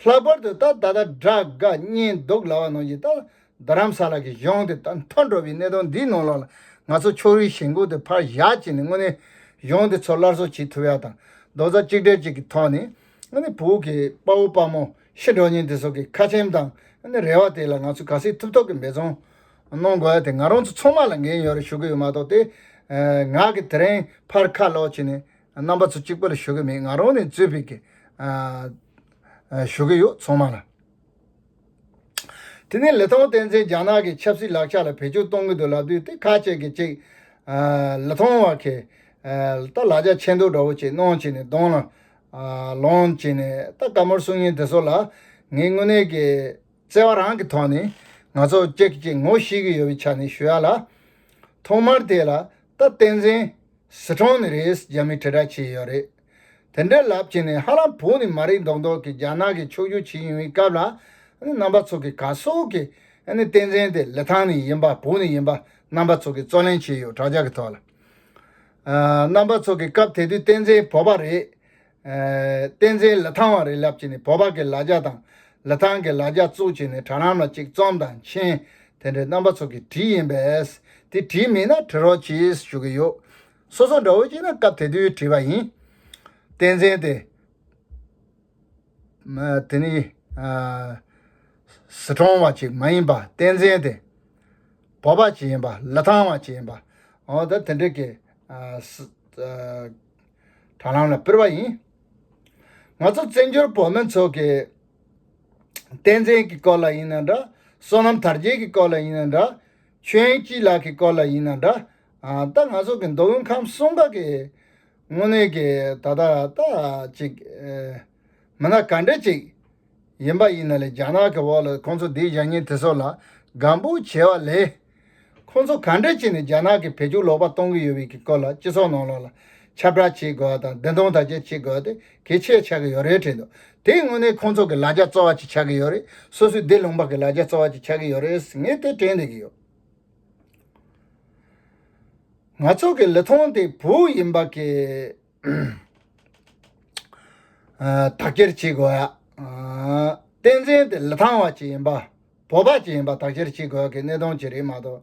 ལྷག་པར་དུ་ད་ད་ལྟ་དགྲ་དགའ་གཉེན་སྡུག་ལ་བ་ནང་གི་ད་ད་རྡ་རམ་ས་ལ་གི་གཞུང་དེ་དང་མཐོ་འགྲོ་བའི་གནད་དོན་འདིའི་ནང་ལོགས་ལ་ང་ཚོ་ཕྱོགས་རིས་ཞེན་ཁུག་དེ་ཕར་བཞག་ཅིག་ནས་དངོས་གནས་གཞུང་དེ་ཚོ་སླར་གསོ་བྱེད་ཐུབ་ཡ་དང་རྡོག་རྩ་གཅིག་སྒྲིལ་ཅིག་གི་ཐོག་ནས་དངོས་གནས་བོད་ཀྱི་དཔའ་བོ་དཔའ་མོ་ཤི་འགྲོ་ཉེན་དེ་ཚོ་གི་ཁ་ཆེམས་དང་དངོས་གནས་རེ་བ་དེ་ལ་ང་ཚོས་ག་སེ་ཐུབ་ཐོག་གི་འབད་བརྩོན་གནང་དགོས་ཡ་དེ་ང་རང་ཚོ་ཚང་མ་ལ་འགན་ཡོད་རེ་ཞུ་གི་ཡོད་མ་གཏོགས་དེ་ང་གི་དེ་རིང་ཕར་ཁ་ལོག་ཅིག་ནས་རྣམ་པ་ཚོ་གཅིག་པོ་ལ་ཞུ་གི་མེད་ང་རང་ནས་གཙོས་ཕེབས་ཀྱི་ཞུ་གི་ཡོད་ཚང་མ་ལ། དེ་ནི་ལི་ཐང་བསྟན་འཛིན་རྒྱ་ནག་གི་ཆབ་སྲིད་ལག་ཆ་ལ་བེད་སྤྱོད་གཏོང་གི་འདུག་ལབ་དུས་དེ་ཁ་ཅིག་གིས་ཅིག། ལི་ཐང་བ་ཁེ། ད་ལག་ཆ་ཆེ་མདོག་འདྲ་བོ་ཅིག་གནང་བྱས་ནས་གདོང་ལ། ལོངས་བྱས་ནས་ད་དཀའ་མོར་གསུང་ཉིན་དེ་ཚོ་ལ། ངས་དངོས་གནས་ཀྱི། བརྩེ་བ་རང་གི་ཐོག་ནས། ང་ཚོ་གཅིག་གིས་ཅིག་ངོ་ཤེས་ཀྱི་ཡོད་པའི་ཆ་ནས་ཞུ་ཡ་ལ། ཐོག་མར་དེ་ལ། ད་བསྟན་འཛིན། ཟི་ཁྲོང་ནི་རེས་རྒྱ་མི་དྲིལ་བསྒྲགས་བྱས་ཡོད་རེད། དེ་འདྲའི་ལབ་བྱེད་ནི་ཧ་ལམ་བོད་ནི་མ་རིག་མདོག་མདོག་གི་རྒྱ་ནག་གི་ཕྱོགས་བསྒྱུར་བྱེད་ཡིན་བའི་སྐབས་ལ་རྣམ་པ་ཚོ་གི་ག་སོག་གི་བསྟན་འཛིན་དེ་ལི་ཐང་ནས་ཡིན་པ་བོད་ནས་ཡིན་པ་རྣམ་པ་ཚོ་གི་རྩོད་ལེན་བྱས་ཡོད་དྲག་ཆ་གི་ཐོག་ལ་རྣམ་པ་ཚོ་གི་སྐབས་དེ་དུས་བསྟན་འཛིན་བོད་པ་རེད་བསྟན་འཛིན་ལི་ཐང་བ་རེད་ལབ་བྱེད་ནི་བོད་པ་གི་ལ་རྒྱ་དང་ལི་ཐང་གི་ལ་རྒྱ་བཙུགས་བྱེད་ནི་དྲ་ལམ་ལ་ཅིག་རྩོམ་དང་མཆན་དེ་འདྲའི་རྣམ་པ་ཚོ་གི་བྲིས་ཡིན་པས་དེ་བྲིས་མིན་ན་བྲི་རོགས་གྱིས་ཞུ་གི་ཡོད། སོ་སོ་འདྲ་བོ་ཞིག་ན་སྐབས་དེ་དུས་བྲིས་པ་ཡིན། བསྟན་འཛིན་དེ། དེ་ནི། ཟི་གྲོང་བ་ཞིག་མ་ཡིན་པར་བསྟན་འཛིན་དེ། བོད་པ་ཞིག་ཡིན་པ་ལི་ཐང་བ་ཞིག་ཡིན་པ། འོ་ད་དེ་འདྲ་གི། དྲ་ལམ་ལ་སྤེལ་བ་ཡིན། ང་ཚོ་བཙན་བྱོལ་བོད་མི་ཚོ་གི། བསྟན་འཛིན་གྱི་སྐོར་ལ་ཡིན་ན་འདྲ། བསོད་ནམས་དར་རྒྱས་ཀྱི་སྐོར་ལ་ཡིན་ན་འདྲ། ཆོས་སྐྱིད་ལགས་ཀྱི་སྐོར་ལ་ཡིན་ན་འདྲ། ད་ང་ཚོ་གི་མདོ་དབུས་ཁམས་གསུམ་ཀ་གི་དངོས་གནས་ཀྱི་ད་ལྟ་ལྟ་ཅིག་མི་སྣ་ག་འདྲ་ཅིག་ཡིན་པ་ཡིན་ན་ལས་རྒྱ་ནག་གི་འོག་ལ་ཁོང་ཚོ་འདི་བཞག་ཉིན་དེ་ཚོ་ལ་དགའ་འབོད་བྱེད་བ་ལས། ཁོང་ཚོ་ག་འདྲ་ཅིག་ནས་རྒྱ་ནག་གི་བེད་སྤྱོད་ལོག་པ་གཏོང་གི་ཡོད་བའི་ཀྱི་སྐོར་ལ་སྤྱི་ཚོགས་ནང་ལོག་ལ་ཁྱབ་བསྒྲགས་བྱེད་དགོས་བ་དང་བདེན་སྟོང་དག་བྱེད་བྱེད་དགོས་ཏེ་གེ་ཆེ་ཆགས་ཀྱི་ཡོད་རེད་དྲན་འདུག་དེའི་སྔོན་ནས་ཁོང་ཚོ་གི་ལ་རྒྱ་རྩོ་བ་ཅིག་ཆགས་ཀྱི་ཡོད་རེད་སོ་སོའི་སྡེ་ལུང་པ་གི་ལ་རྒྱ་རྩོ་བ་ཅིག་ཆགས་ཀྱི་ཡོད་རེད་ངས་དེ་དྲན་བསྡད་ཀྱི་ཡོད། ང་ཚོ་གི་ལི་ཐང་དེ་བོུ་ཡིན་པ་གི་དག་སྐྱེར་བྱེད་དགོས། བསྟན་འཛིན་དེ་ལི་ཐང་བ་ཅིག་ཡིན་པ་བོད་པ་ཅིག་ཡིན་པ་དག་སྐྱེར་བྱེད་དགོས་གི་གནས་སྟོང་ཅིག་རེད་མ་གཏོགས།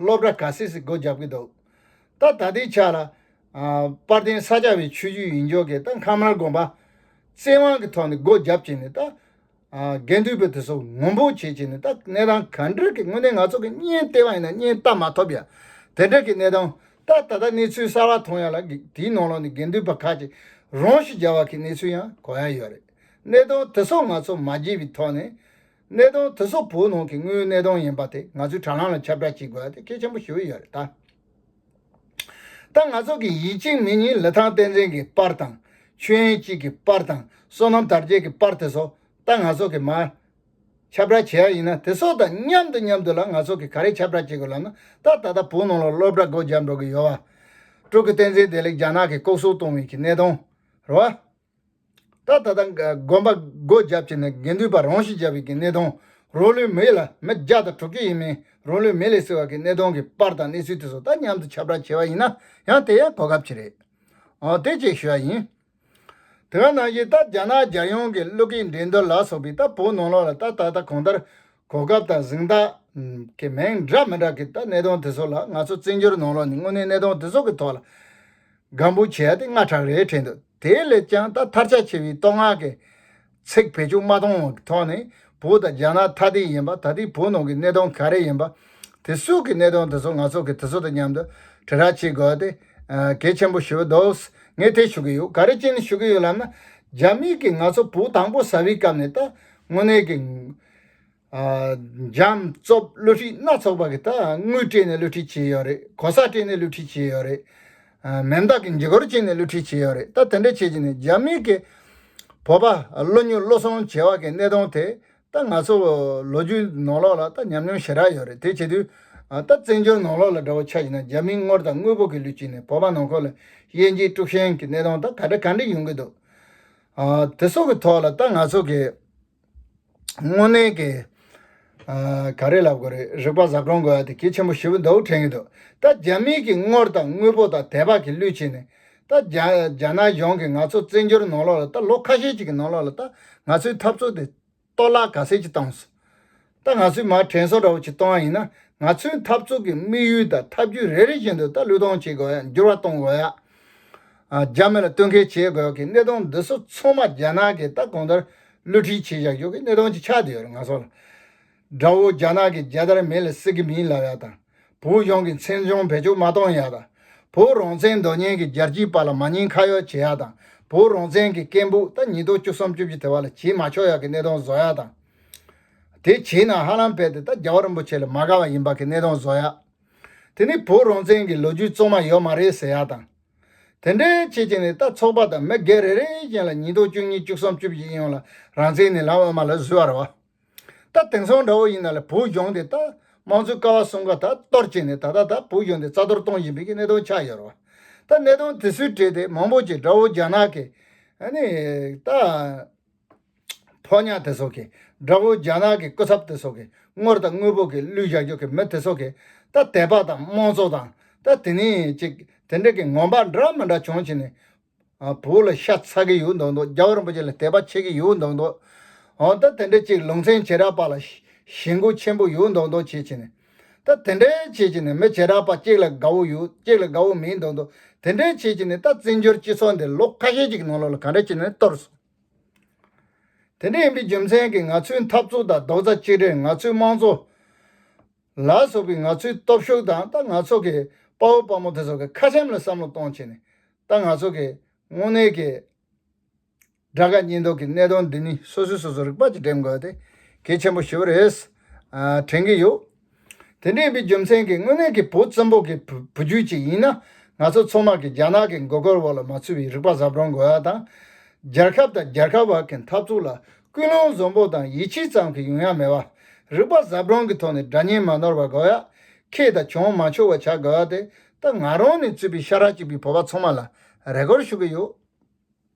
སློབ་གྲྭ་ག་སིས་སྒོ་རྒྱབ་ཀྱི་འདུག་ད་ལྟ་དེའི་ཆ་ལ། པར་ལྡན་ས་སྐྱ་བའི་ཆོས་བརྒྱུད་ཡིན་ཆོག་གི་ད་མཁའ་མར་དགོན་པ། བཙན་དབང་གི་ཐོག་ནས་སྒོ་རྒྱབ་ཀྱི་ནི་ད། དགེ་འདུན་པའི་དེ་སོགས་ངོམ་བུ་བྱེད་ཀྱི་ནི་ད་གནས་སྟངས་ག་འདྲ་གི་དངོས་གནས་ང་ཚོ་གི་བརྙན་ལྟས་པ་ཡིན་ན་བརྙན་ལྟ་མ་ཐོབ་ཡ། དེ་འདྲ་གི་གནས་སྟངས་ད་ད་ལྟ་གནས་ཚུལ་གསར་བ་མཐོང་ཡ་ལ་དེའི་ནང་ལོགས་ནས་དགེ་འདུན་པ་ཁག་ཅིག་རང་ཤི་རྒྱ་བ་གི་གནས་ཚུལ་ཡང་གོ་ཡ་ཡོད་རེད་གནས་སྟངས་དེ་སོགས་ང་ཚོ་མ་བརྗེད་པའི་ཐོག་ནས། གནས་སྟངས་དེ་སོག་པོའི་ནང་གི་དངོས་གནས་སྟངས་ཡིན་པ་དེ་ང་ཚོས་དྲ་ལམ་ལ་ཁྱབ་བསྒྲགས་བྱེད་དགོས་པ་དེ་གལ་ཆེན་པོ་ཞུ་ཡི་ཡོད་རེད་ད། ད་ང་ཚོ་གི་ཡིད་གཅིག་མིག་གཉིས་ལི་ཐང་བསྟན་འཛིན་གྱི་པར་དང། ཆོས་ཡན་སྐྱིད་ཀྱི་པར་དང་བསོད་ནམས་དར་རྒྱས་ཀྱི་པར་དེ་སོག་ད་ང་ཚོ་གི་མ། ཁྱབ་བསྒྲགས་བྱེད་ཡ་ཡིན་ན་དེ་སོག་དང་མཉམ་དུ་མཉམ་དུ་ལ་ང་ཚོ་གི་ག་རེ་ཁྱབ་བསྒྲགས་བྱེད་དགོས་ལབ་ན་ད་ད་ལྟ་བོད་ནང་ལ་སློབ་གྲྭ་སྒོ་བརྒྱབ་འགྲོ་གི་ཡོད་བ། དྲུག་གི་བསྟན་འཛིན་བདེ་ལེགས་རྒྱ་ནག་གི་ལྐོག་གསོད་གཏོང་བའི་གི་གནས་སྟངས། རེད་བ། ད་ལྟ་དགོན་པ་སྒོ་བརྒྱབ་བྱས་ནས་དགེ་འདུན་པ་རང་ཤི་བརྒྱབ་ཡིག་གི་གནས་སྟངས་རོ་ལུའི་མི་ཡིག་ལ་མི་བརྒྱ་དང་དྲུག་ཅུ་ཡིན་མིན་རོ་ལུའི་མི་ལས་སྲིད་བར་གྱི་གནས་སྟངས་ཀྱི་པར་དང་གནས་ཚུལ་དེ་ཚོ་ད་མཉམ་དུ་ཁྱབ་བསྒྲགས་བྱས་པ་ཡིན་ན་ཡང་དེ་ཡང་གོ་སྐབས་ཅིག་རེད། འོ་དེ་བཅས་ཞུ་བ་ཡིན། དེ་ག་ནང་བཞིན་ད་རྒྱ་ནག་རྒྱལ་ཡོངས་ཀྱི་ཀླུ་སྐེད་འགྲན་བསྡུར་ལ་སོགས་པའི་ད་བོད་ནང་ལོགས་ལ་ད་ད་ལྟ་གང་ལྟར་གོ་སྐབས་དང་གཟེངས་རྟགས་ཀྱི་མིང་འདྲ་མི་འདྲ་གི་ད་གནས་སྟངས་དེ་ཚོ་ལ་ང་ཚོ་བཙན་བྱོལ་ནང་ལོགས་ནས་དངོས་གནས་གནས་སྟངས་དེ་ཚོ་གི་ཐོག་ལ། སྒམ་པོ་བྱས་ཏེ་ལྔ་ཕྲག་རེ་དྲན་འདུག་དེ་ལས་ཀྱང་ད་ཐར་ཆ་ཆེ་བའི་བསྟོད་བསྔགས་ཀྱི་ཚིག་བེད་སྤྱོད་མ་གཏོང་བའི་ཐོག་ནས་བོད་དང་རྒྱ་ནག་ཐ་དད་ཡིན་པ་ད་ལྟའི་བོད་ནང་གི་གནད་དོན་ག་རེ་ཡིན་པ། དེ་སོགས་ཀྱི་གནད་དོན་དེ་ཚོ་ང་ཚོ་གིས་དེ་ཚོ་དང་མཉམ་དུ་དྲིལ་བསྒྲགས་བྱེད་དགོས་ཏེ། གལ་ཆེན་པོ་ཞུ་འདུག་ངས་དེ་ཞུ་གི་ཡོད་ག་རེ་ཅི་ནས་ཞུ་གི་ཡོད་ལབ་ན། རྒྱ་མིས་ཀྱིས་ང་ཚོ་བོད་དང་པོ་ཟ་བའི་སྐབས་ནས་ད་དངོས་གནས་ཀྱི། འཇམ་རྩུབ་བསླུ་བྲིད་སྣ་ཚོགས་པ་གིས་ད་དངུལ་སྤྲད་ནས་བསླུ་བྲིད་བྱས་ཡོད་རེད་གོ་ས་སྤྲད་ནས་བསླུ་བྲིད་བྱས་ཡོད་རེད། མེ་མདག་གི་འཇིགས་སྐོར་བྱས་ནས་བསླུ་བྲིད་བྱས་ཡོད་རེད་ད་དེ་འདྲ་བྱེད་ཀྱི་ནི་རྒྱ་མི་གི་བོད་པ་བློ་ཉུག་བློ་སོང་བྱེད་བ་གི་གནས་སྟོང་དེ་ད་ང་ཚོ་ལོ་རྒྱུས་ནོར་ལོག་ལ་ད་ཉམས་མྱོང་ཞེ་དྲག་ཡོད་རེད་དེ་བྱེད་དུས་ད་བཙན་བྱོལ་ནོར་ལོག་ལ་དགྲ་བོ་ཆགས་ཀྱི་ན་རྒྱ་མིའི་དངུལ་དང་དངོས་པོ་གི་བསླུ་བྱས་ནས་བོད་པ་ནང་ཁོལ་ལ་དབྱེ་འབྱེད་དཀྲུག་ཤན་གི་གནས་སྟོང་ད་ག་འདྲ་ག་འདྲ་ཡོང་གི་འདུག་དེ་སོགས་གི་ཐོག་ལ་ད་ང་ཚོ་གི། དངོས་གནས་ཀྱི། ག་རེ་ལབ་དགོས་རེད་རིག་པ་གཟའ་སྐྲུངས་དགོས་ཡ་དེ་གལ་ཆེན་པོ་ཞེ་བོ་འདུག་དྲན་གྱི་འདུག་ད་རྒྱ་མིའི་གྱི་དངོར་དང་དངོས་པོ་དང་དད་པ་གྱི་བསླུས་བྱས་ནས་ད་རྒྱ་ནག་གཞུང་གི་ང་ཚོ་བཙན་འབྱོར་ནང་ལོགས་ལ་ད་ལོ་ཁ་ཤས་ཅིག་གི་ནང་ལོགས་ལ་ད་ང་ཚོའི་འཐབ་རྩོད་དེ་གཏོར་བརླག་ག་ཟེ་ཅིག་བཏང་སོང། ད་ང་ཚོའི་མར་དྲན་གསོ་འདྲ་བོ་ཞིག་གཏོང་ཡ་ཡིན་ན་ང་ཚོའི་འཐབ་རྩོད་ཀྱི་དམིགས་ཡུལ་དང་ཐབས་ཇུས་རེ་རེ་བཞིན་དུ་ད་ལུས་གཏོང་བྱེད་དགོས་ཡ་འགྱུར་བ་གཏོང་དགོས་ཡ། རྒྱ་མི་ལ་བསྟུན་མཁས་བྱེད་དགོས་ཀྱི་གནད་དོན་འདི་ཚོ་ཚང་མ་རྒྱ་ནག་གིས་ད་གང་ལྟར་བསླུ་ཁྲིད་བྱེད་བཞག་ཡོད་ཀྱི་གནད་དོན་ཅིག་ཆགས་བསྡད་ཡོད་རེད་ང་ཚོ་ལ་དགྲ་བོ་རྒྱ་ནག་གིས་རྒྱལ་དར་མེ་ལ་བསྲེགས་ཀྱི་མིན་ལབ་ཡ་དང་བོད་གཞུང་གིས་མཚན་བྱང་བེད་སྤྱོད་མ་གཏོང་ཡ་དང་བོ་རང་བཙན་རྡོ་གཉན་གྱི་རྒྱལ་སྤྱིའི་བར་ལ་མ་ཉེས་ཁ་ཡོག་བྱེད་ཡ་དང་བོ་རང་བཙན་གྱི་སྐད་འབུག་ད་ཉིས་སྟོང་བཅུ་གསུམ་བཅུ་བཞི་དེ་བར་ལ་བྱེད་མ་ཆོག་ཡ་ཀྱི་གནད་དོན་བཟོ་ཡ་དང། དེ་བྱས་ན་ཧ་ལམ་བལ་དེ་ད་རྒྱལ་བ་རིན་པོ་ཆེ་ལ་མ་དགའ་བ་ཡིན་པ་གི་གནས་སྟངས་བཟོ་ཡ། དེ་ནི་བོད་རང་བཙན་གི་ལོ་རྒྱུས་གཙང་མ་ཡོད་མ་རེད་ཟེར་ཡ་དང། དེ་འདྲའི་བྱེད་ཀྱི་ནི་ད་ཚོགས་པ་དང་མི་སྒེར་རེ་རེ་བཞིན་ལ་ཉིས་སྟོང་བཅུ་གཉིས་བཅུ་གསུམ་བཅུ་བཞི་ཡིན་ཡང་ལ་རང་བཙན་ནི་ལམ་དབུ་མ་ལ་བཟོས་བ་རེད་བ། ད་དེང་སང་འདྲ་བོ་ཡིན་ན་ལ་བོད་གཞུང་དེ་ད་དམངས་གཙོའི་ཀ་བ་གསུམ་ཀ་ད་གཏོར་བྱས་ནས་ད་ལྟ་ད་བོད་གཞུང་དེ་རྩ་གཏོར་གཏོང་བཞིན་པའི་གི་གནས་སྟངས་ཆགས་ཡོད་རེད་བ། ད་གནས་སྟངས་དེ་ཚོའི་གྲས་དེ་མང་པོ་ཅིག་དགྲ་བོ་རྒྱ་ནག་གི་ནི་ད། ཕོ་ཉ་དེ་སོགས་ཀྱིས་དགྲ་བོ་རྒྱ་ནག་གི་སྐུ་ཚབ་དེ་སོགས་ཀྱི་སྔོར་དང་དངོས་པོ་གི་གླུད་བཞག་རྒྱུ་གི་མི་དེ་སོགས་ཀྱིས་ད་དད་པ་དང་དམངས་གཙོ་དང་ད་དེ་ནས་ཅིག་དེ་འདྲ་གི་ངོམ་པ་འདྲ་མི་འདྲ་བྱུང་བྱས་ནས་བོད་ལ་ཤ་ཚ་གི་ཡོད་མདོག་མདོག་རྒྱ་བ་རིན་པོ་ཆེ་ལ་དད་པ་བྱེད་ཀྱི་ཡོད་མདོག་མདོག་འོ་ད་དེ་འདྲ་ཅིག་ལུང་ཚན་བྱེ་བྲག་པ་ལ་ཞེན་དགུ་ཆེན་པོ་ཡོད་མདོག་མདོག་བྱེད་བྱས་ནས་ད་དེ་འདྲ་བྱེད་བྱས་ནས་མི་བྱེ་བྲག་པ་གཅིག་ལ་དགའ་བོ་ཡོད་གཅིག་ལ་དགའ་བོ་མིན་མདོག་མདོག་དེ་འདྲ་བྱེད་བྱས་ནས་ད་བཙན་བྱོལ་སྤྱི་ཚོགས་འདི་ལོ་ཁ་ཤས་ཅིག་གི་ནང་ལོགས་ལ་ག་འདྲ་བྱས་ནས་གཏོར་སོང། དེ་འདྲ་ཡིན་པའི་རྒྱུ་མཚན་གྱིས་ང་ཚོའི་འཐབ་རྩོད་དང་རྡོག་རྩ་གཅིག་སྒྲིལ་ང་ཚོའི་དམངས་གཙོ། ལ་སོགས་པའི་ང་ཚོའི་སྟོབས་ཤུགས་དང་ད་ང་ཚོ་གི་དཔའ་བོ་དཔའ་མོ་དེ་ཚོ་གི་ཁ་ཆེམས་ལ་བསམ་བློ་གཏོང་ཆེད་ནས་ད་ང་ཚོ་གི་དངོས་གནས་ཀྱི་དགྲ་དགའ་གཉེན་སྡུག་གི་གནད་དོན་འདི་གཉིས་སོ་སོས་སོ་སོར་རིག་པ་གཅིག་འགྲེམས་དགོས་ཏེ་གལ་ཆེན་པོ་ཞིག་རེད་དྲན་གྱི་ཡོད། དེ་འདྲ་ཡིན་པའི་རྒྱུ་མཚན་གྱིས་དངོས་གནས་ཀྱི་བོད་བཙན་པོ་གི་བུ་རྒྱུད་ཅིག་ཡིན་ན་ང་ཚོ་ཚོང་དམག་གིས་རྒྱ་ནག་གི་མགོ་སྐོར་འོག་ལ་མ་ཚུད་པའི་རིག་པ་ཟབ་རོང་དགོས་ཡ་དང། རྒྱལ་ཁབ་དང་རྒྱལ་ཁབ་བར་གྱི་འཐབ་རྩོད་ལ་ཀུན་སློང་བཟང་པོ་དང་ཡིད་ཆེས་ཙམ་གྱིས་ཡོང་ཡ་མེད་པ། རིག་པ་ཟབ་རོང་གི་ཐོག་ནས་དགྲ་གཉེན་མ་ནོར་བ་དགོས་ཡ། ཁེ་དང་གྱོང་མ་འཆོར་བ་བྱ་དགོས་ཡ་དེ་ད་ང་རང་ནས་བཙུད་པའི་ཤ་ར་གཅིག་པའི་བོད་པ་ཚོང་མ་ལ་རེ་སྐོར་ཞུ་གི་ཡོད།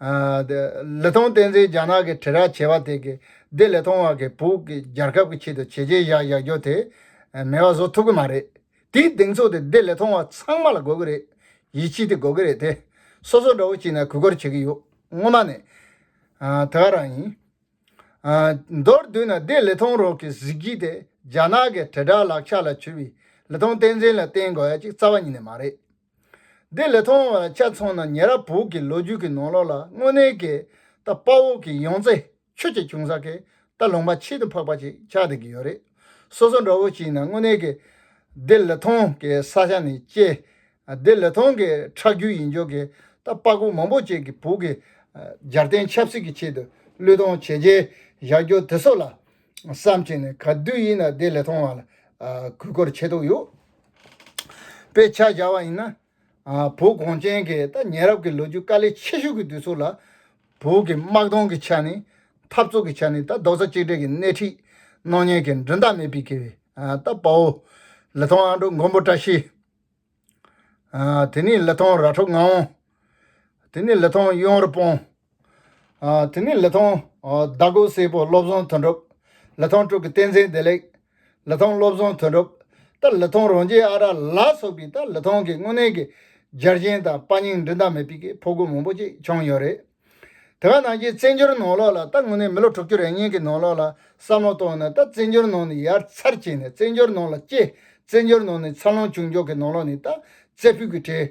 ལི་ཐང་བསྟན་འཛིན་རྒྱ་ནག་གི་དྲིལ་བསྒྲགས་བྱེད་པ་དེ་གིས་བདེ་ལེགས་ཐོང་བ་གིས་བོད་ཀྱི་རྒྱལ་ཁབ་ཀྱི་ཆེད་དུ་བྱས་རྗེས་བཞག་བཞག་རྒྱུ་དེ་མེད་པ་བཟོ་ཐུབ་ཀྱི་མ་རེད། དེའི་གདེང་ཚོད་དེ་བདེ་ལེགས་ཐོང་བ་ཚང་མ་ལ་དགོས་ཀྱི་རེད། ཡིད་ཆེས་དེ་དགོས་ཀྱི་རེད་དེ། སོ་སོ་འདྲ་བོ་གཅིག་ནས་གུས་བཀུར་བྱེད་ཀྱི་ཡོད། སྔོན་མ་ནས། དེ་ག་རང་ཡིན། མདོར་བསྡུས་ན་བདེ་ལེགས་ཐོང་རོགས་ཀྱི་གཟི་བརྗིད་དེ་རྒྱ་ནག་གི་དྲིལ་བསྒྲགས་ལག་ཆ་ལ་འཁྱུར་བའི་ལི་ཐང་བསྟན་འཛིན་ལ་བརྟེན་དགོས་ཡ་གཅིག་རྩ་བ་ཉིད་ནས་མ་རེད། འདི་ལས་མཐོང་བ་ལ་དཔྱད་མཚོན་ན་ཉེ་རབས་བོད་ཀྱི་ལོ་རྒྱུས་ཀྱི་ནང་ལོགས་ལ་དངོས་གནས་ཀྱི་རྟ་དཔའ་འོག་གི་ཡང་རྩེ་ཆུ་གཅིག་བྱུང་ས་ཀྱི་རྟ་ལུང་པ་ཆེད་དུ་འཕགས་པ་ཅིག་ཆགས་བསྡད་ཀྱི་ཡོད་རེད། སོ་སོ་འདྲ་བོ་ཞིག་ཡིན་ན་དངོས་གནས་ཀྱི་འདི་ལས་མཐོང་གི་ས་ཆ་ནས་དཔྱད། འདི་ལས་མཐོང་གི་ཁྲག་རྒྱུད་ཡིན་ཆོག་གི་རྟ་དཔའ་སྒོ་མང་པོ་བཅས་ཀྱི་བོད་ཀྱི་སྦྱར་བསྟན་ཆབ་སྲིད་ཀྱི་ཆེད་དུ་བློས་གཏོང་བྱས་རྗེས་བཞག་རྒྱུ་དེ་སོགས་ལ་བསམ་ཆེད་ནས་ག་དུས་ཡིན་ན་འདི་ལས་མཐོང་བ་ལ་གུས་བཀུར་ཆེ་ཐུག་ཡོད། དཔེ་ཆ་སྦྱར་བ་ཡིན་ན། བོད་གངས་ཅན་གྱི་ད་ཉེ་རབས་ཀྱི་ལོ་རྒྱུས་དཀའ་ལས་ཆེ་ཤོས་ཀྱི་དུས་ཚོད་ལ། བོད་ཀྱི་དམག་དོན་གྱི་ཆ་ནས། འཐབ་རྩོད་ཀྱི་ཆ་ནས་ད་རྡོག་རྩ་གཅིག་སྒྲིལ་གྱི་སྣེ་ཁྲིད། སྣང་བརྙན་གྱི་མགྲིན་ཐག་མེད་པའི་གིད། ད་པའོ། ལི་ཐང་ཨ་འབྲུག་མགོན་པོ་བཀྲ་ཤིས། དེ་ནས་ལི་ཐང་ར་འཕྲོད་ངག་དབང། དེ་ནས་ལི་ཐང་གཡུང་དྲུང་སྤོང། དེ་ནས་ལི་ཐང་ཟླ་དགུ་སེར་པོ་བློ་བཟང་དོན་གྲུབ། ལི་ཐང་དྲུག་གི་བསྟན་འཛིན་བདེ་ལེགས། ལི་ཐང་བློ་བཟང་དོན་གྲུབ། ལྟ་ལི་ཐང་རོང་རྗེ་ཨ་ར་ལ་སོགས་པའི་ལྟ་ལི་ཐང་གི་དངོས་གནས་ཀྱི་སྦྱར་གཞན་དང་དཔའ་སྙིང་མགྲིན་ཐག་མེད་པའི་ཕོ་རྒོད་མང་པོ་ཅིག་བྱུང་ཡོད་རེད། དེ་ག་ནང་བཞིན་བཙན་བྱོལ་ནང་ལོགས་ལ་ལྟ་དངོས་གནས་མི་ལོ་དྲུག་ཅུ་རེ་གཉིས་ཀྱི་ནང་ལོགས་ལ་བསམ་བློ་བཏང་ནས་ལྟ་བཙན་བྱོལ་ནང་ནས་ཡར་ཚར་བྱས་ནས་བཙན་བྱོལ་ནང་ལ་སྐྱེས་བཙན་བྱོལ་ནང་ནས་འཚར་ལོངས་བྱུང་མགྱོགས་ཀྱི་ནང་ལོགས་ནས་ལྟ་རྩེ་ཕུད་ཀྱི་གྲས་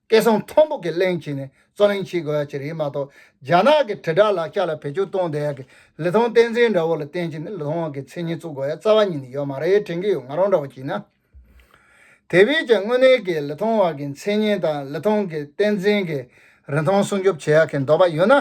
སྐད་གསང་མཐོན་པོ་གྱིས་གླེང་བྱས་ནས་རྩོད་གླེང་བྱེད་དགོས་པ་བཅས་རེད་མ་གཏོགས་རྒྱ་ནག་གི་དྲིལ་བསྒྲགས་ལག་ཆ་ལ་བེད་སྤྱོད་གཏོང་བསྡད་ཡག་གི་ལི་ཐང་བསྟན་འཛིན་འདྲ་བོ་ལ་བསྟེན་བྱས་ནས་ལི་ཐང་དབང་གི་མཚན་སྙན་བཙུགས་དགོས་ཡ་རྩ་བ་ཉིད་ནས་ཡོད་མ་རེད་དྲན་གྱི་ཡོད་ང་རང་འདྲ་བོ་གྱིས་ན། དེ་བས་ཀྱང་དངོས་གནས་ཀྱི་ལི་ཐང་བར་གྱི་མཚན་སྙན་དང་ལི་ཐང་གི་བསྟན་འཛིན་གྱི་རིན་ཐང་སྲུང་སྐྱོབ་བྱེད་ཡག་གི་འདོད་པ་ཡོད་ན།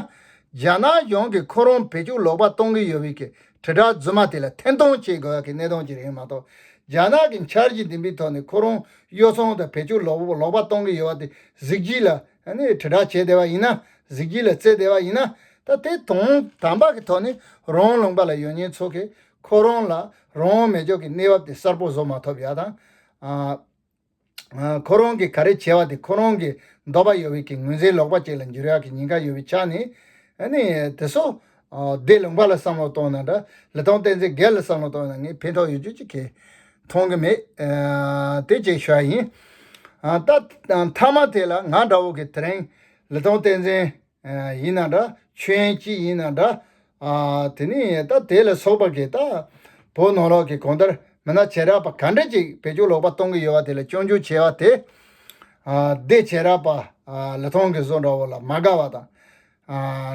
རྒྱ་ནག་གཞུང་གིས་ཁོ་རང་བེད་སྤྱོད་ལོག་པ་གཏོང་གི་ཡོད་བས་ཀྱི་དྲིལ་བསྒྲགས་རྫུན་མ་དེ་ལ་འཐེན་གཏོང་བྱེད་དགོས་བ་གི་གནད་དོན་ཅིག་རེད་མ་གཏོགས། རྒྱ་ནག་གི་འཆར་གཞི་འདི་འདི་ཐོག་ནས་ཁོ་རང་གཡོ་ཚོང་དང་བེད་སྤྱོད་ལོག་ལོག་པ་གཏོང་གི་ཡོད་བ་དེ་གཟིགས་གཞི་ལ་དྲིལ་བསྒྲགས་བྱེད་བདེ་བ་ཡིན་ན་གཟིགས་གཞི་ལ་བརྩི་བདེ་བ་ཡིན་ན་ད་དེ་དོན་དམ་པ་གི་ཐོག་ནས་རང་ལུང་པ་ལ་ཡོད་ཉེན་ཚོ་གི་ཁོ་རང་ལ་རང་མེད་འཇོག་གི་གནས་བབ་དེ་གསར་པོ་བཟོ་མ་ཐོབ་ཡག་དང། ཁོ་རང་གིས་ག་རེ་བྱས་བ་དེ་ཁོ་རང་གིས་འདོགས་པ་ཡོད་བས་ཀྱི་ངོས་འཛིན་ལོག་པ་ཅིག་ལ་འགྱུར་ཡག་གི་ཉེན་ཁ་ཡོད་བས་ཆགས་ནས་ནི་དེ་སོ། འདས་ལུང་པ་ལ་བསམ་བློ་གཏོང་ན་འདྲ་ལི་ཐང་བསྟན་འཛིན་རྒས་ལ་བསམ་བློ་གཏོང་ན་ངས་ཕན་ཐོག་ཡོད་རྒྱུ་ཅི་གས། མཐོང་གི་མེད། དེ་བཅས་ཞུ་བ་ཡིན། ད་མཐའ་མ་དེ་ལ་ང་འདྲ་བོ་གིས་དེ་རིང་ལི་ཐང་བསྟན་འཛིན། ཡིན་ན་འདྲ་ཆོས་ཡན་གཅིག་ཡིན་ན་འདྲ། དེ་ནི་ད་དེ་ལ་སོགས་པ་གིས་ད་བོ་ནོར་ལོག་གི་གོང་ལྟར་མི་སྣ་བྱེ་བྲག་པ་ག་འདྲ་ཅིག་བེད་སྤྱོད་ལོག་པ་གཏོང་གི་ཡོད་པ་དེ་ལ་སྐྱོན་བརྗོད་བྱེད་པ་དེ། སྡེ་བྱེ་བྲག་པ་ལི་ཐང་གི་བཟོ་འདྲ་བོ་ལ་མ་དགའ་བ་དང།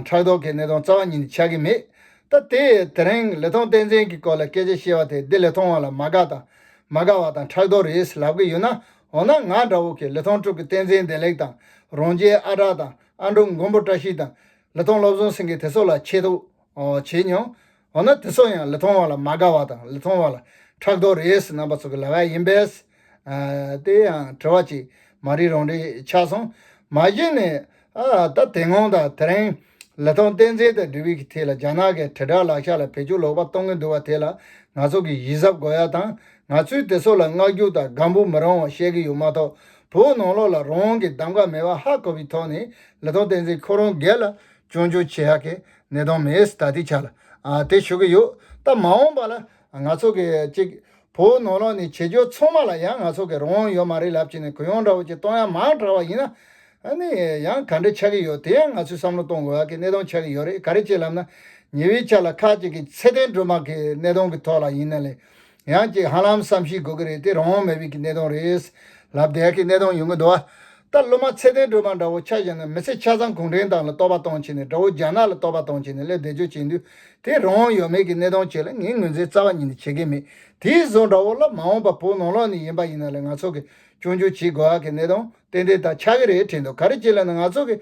ཕྲག་དོག་གི་གནས་སྟངས་རྩ་བ་ཉིད་ནས་ཆགས་ཀྱི་མེད། ད་དེ་དེ་རིང་ལི་ཐང་བསྟན་འཛིན་གྱི་སྐོར་ལ་སྐད་ཆ་བཤད་པ་དེ་སྡེ་ལི་ཐང་བ་ལ་མ་དགའ་དང་མ་དགའ་བ་དང་ཕྲག་དོག་རེད་ལབ་ཀྱི་ཡོད་ན་འོ་ན་ང་འདྲ་བོ་གིས་ལི་ཐང་དྲུག་གི་བསྟན་འཛིན་བདེ་ལེགས་དང་རོང་རྒྱའི་ཨ་གྲགས་དང་ཨ་མདོ་མགོན་པོ་བཀྲ་ཤིས་དང་ལི་ཐོང་བློ་བཟང་སེང་གེ་དེ་སོགས་ལ་ཆེད་དུ་བྱས་མྱོང། འོ་ན་དེ་སོགས་ཡང་ལི་ཐོང་བ་ལ་མ་དགའ་བ་དང་ལི་ཐོང་བ་ལ་ཕྲག་དོག་རེད་ཟེར་ནང་པ་ཚོ་གི་ལ་བས་ཡིན་པས། དེ་ཡང་དྲི་བ་གཅིག་མ་རིག་རང་རིག་ཆགས་སོང། མ་གཞི་ནས་ད་དེ་སྔོན་དང་དེ་རིང་ལི་ཐོང་བསྟན་འཛིན་དང་འབྲུ་བིག་གི་ཐད་ལ་རྒྱ་ནག་གི་དྲིལ་བསྒྲགས་ལག་ཆ་ལ་བེད་སྤྱོད་ལོག་པ་གཏོང་གིན་འདུག་བ་དེ་ལ་ང་ཚོ་གི་གཞི་གཟབ་དགོས་ཡ་དང་ང་ཚོས་དེ་སོགས་ལ་བསྔགས་རྒྱུགས་དང་དགའ་འབུ་མི་རང་བ་བཤད་གི་ཡོད་མ་གཏོགས་བོད་ནང་ལོགས་ལ་རང་གི་གདམ་ག་མེད་པ་ཧ་གོ་བའི་ཐོག་ནས་ལི་ཐང་བསྟན་འཛིན་ཁོ་རང་སྒེར་ལ་སྐྱོན་བརྗོད་བྱེད་ཧ་གི་གནས་སྟངས་མེད་ད་ལྟའི་ཆ་ལ་དེ་ཞུ་གི་ཡོད་སྟབས་མ་འོངས་པ་ལ་ང་ཚོ་གི་གཅིག་བོད་ནང་ལོགས་ནས་བྱེད་རྒྱུ་ཚང་མ་ལ་ཡང་ང་ཚོ་གི་རང་དབང་ཡོད་མ་རེད་ལབ་ཀྱི་ནས་གུ་ཡངས་འདྲ་བོ་ཅིག་གཏོང་ཡ་མང་དྲག་བ་ཡིན་ན་ནི་ཡང་ག་འདྲ་ཆགས་ཀྱི་ཡོད་དེ་ཡང་ང་ཚོས་བསམ་བློ་གཏོང་དགོས་ཧ་གི་གནས་སྟངས་ཆགས་ཀྱི་ཡོད་རེད་ག་རེ་བྱེད་ལབ་ན་ཉེ་བའི་ཆ་ལ་ཁག་ཅིག་གི་ཚད་ལྡན་སྒྲོལ་མ་གི་གནས་སྟངས་གི་ཐོག་ལ་ཡིན་ན་ལས་ཡང་ཅིག་ཧ་ལམ་བསམ་གཞིག་དགོས་ཀྱི་རེད་དེ་རང་དབང་མེད་པའི་གི་གནས་སྟངས་རེད། ལབ་དད་ཀྱི་གནས་སྟངས་ཡོང་གི་འདུག་ཨ། ད་སློབ་མ་ཚད་ལྡན་སྒྲོལ་མ་འདྲ་བོ་ཆ་བཞག་ན་མི་ཚེ་ཆ་ཚང་གུང་ཁྲན་ཏང་ལ་རྟོག་པ་གཏོང་བྱས་ནས་དགྲ་བོ་རྒྱ་ནག་ལ་རྟོག་པ་གཏོང་བྱས་ནས་སླེབས་བསྡད་ཆོས་བྱེད་འདུག་དེ་རང་དབང་ཡོད་མེད་ཀྱི་གནས་སྟངས་བཅས་ལ་ངས་ངོས་འཛིན་རྩ་བ་ཉིད་ནས་བྱེད་ཀྱི་མེད་དེའི་བཟོ་འདྲ་བོ་ལ་མ་འོངས་པ་བོད་ནང་ལོགས་ནས་ཡིན་པ་ཡིན་ན་ལས་ང་ཚོ་གིས་སྐྱོང་རྒྱུ་བྱེད་དགོས་ཀྱི་གནས་སྟངས་ཏན་ཏན་དག་ཆགས་ཀྱི་རེད་དྲན་འདུག་ག་རེ་བྱེད་ལ་ནི་ང་ཚོ་གིས།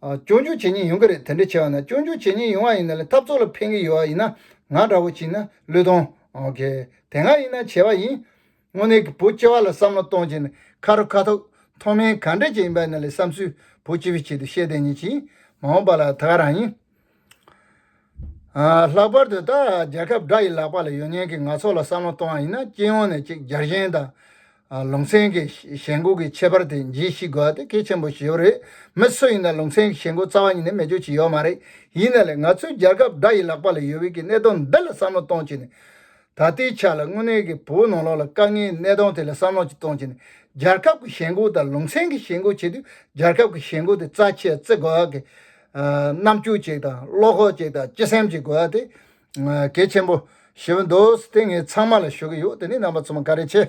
སྐྱོན་བརྗོད་བྱེད་ཉེན་ཡོང་གི་རེད་དེ་འདྲ་བྱས་བ་ན་སྐྱོན་བརྗོད་བྱེད་ཉེན་ཡོང་བ་ཡིན་ན་ལས་འཐབ་རྩོད་ལ་ཕན་གི་ཡོད་བ་ཡིན་ན་ང་འདྲ་བོ་གྱིས་ན་བློས་གཏོང་གི་དེ་སྔ་ཡིན་ན་བྱས་བ་ཡིན། དངོས་གནས་ཀྱི་བོད་སྤྱི་བ་ལ་བསམ་བློ་གཏོང་བྱས་ནས་ཁ་རུ་ཁ་ཐུག་མཐོ་དམན་ག་འདྲ་ཅིག་ཡིན་པ་ཡིན་ན་ལས་བསམ་ཚུལ་བོད་སྤྱི་བའི་ཆེད་དུ་བཤད་དེ་ཉིན་གྱིས་མ་འོངས་པ་ལ་ད་ག་རང་ཡིན། ལྷག་པར་དུ་ད་རྒྱལ་ཁབ་དགྲ་ཡི་ལག་པ་ལ་ཡོད་མཁན་གྱི་ནག་ཚོགས་ལ་བསམ་བློ་གཏོང་བ་ཡིན་ན་སྤྱི་ཡོངས་ནས་གཅིག་གྱར་ཞེན་དང། ལུང་ཚན་གྱི་ཞེན་འགུག་གི་ཁྱད་པར་དེ་ཇི་ཞིག་དགོས་པ་དེ་གལ་ཆེན་པོ་ཞིག་ཡོད་རེད། མི་སུ་ཡིན་ན་ལུང་ཚན་གྱི་ཞེན་འགུག་རྩ་བ་ཉིད་ནས་མེད་རྒྱུ་ཅི་ཡོད་མ་རེད། ཡིན་ན་ལེ་ང་ཚོའི་རྒྱལ་ཁབ་དགྲ་ཡི་ལག་པ་ལ་ཡོད་དབུས་ཀྱི་གནད་དོན་འདི་ལ་བསམ་བློ་གཏོང་བྱེད་ནས། ད་ལྟའི་ཆར་ལ་དངོས་གནས་ཀྱི་བོད་ནང་ལོགས་ལ་དཀའ་ངལ་གནས་སྟངས་ཐད་ལ་བསམ་བློ་གཅིག་གཏོང་བྱས་ནས་རྒྱལ་ཁབ་ཀྱི་ཞེན་ཁོག་དང་ལུང་ཚན་གྱི་ཞེན་ཁོག་བྱེད་དུས་རྒྱལ་ཁབ་ཀྱི་ཞེན་ཁོག་དེ་རྩ་ཆེར་བརྩི་དགོས་པ་གི་རྣམ་འགྱུར་ཅིག་དང་བློ་ཁོག་ཅིག་དང་སྤྱི་སེམས་ཅིག་དགོས་པ་དེ་གལ་ཆེན་པོཞེས་པ་འདུག་དེ་ངས་ཚང་མ་ལ་ཞུ་གི་ཡོད་དེ་ནས་རྣམ་པ་ཚང་མ་འགའ་རེ་ཆེ།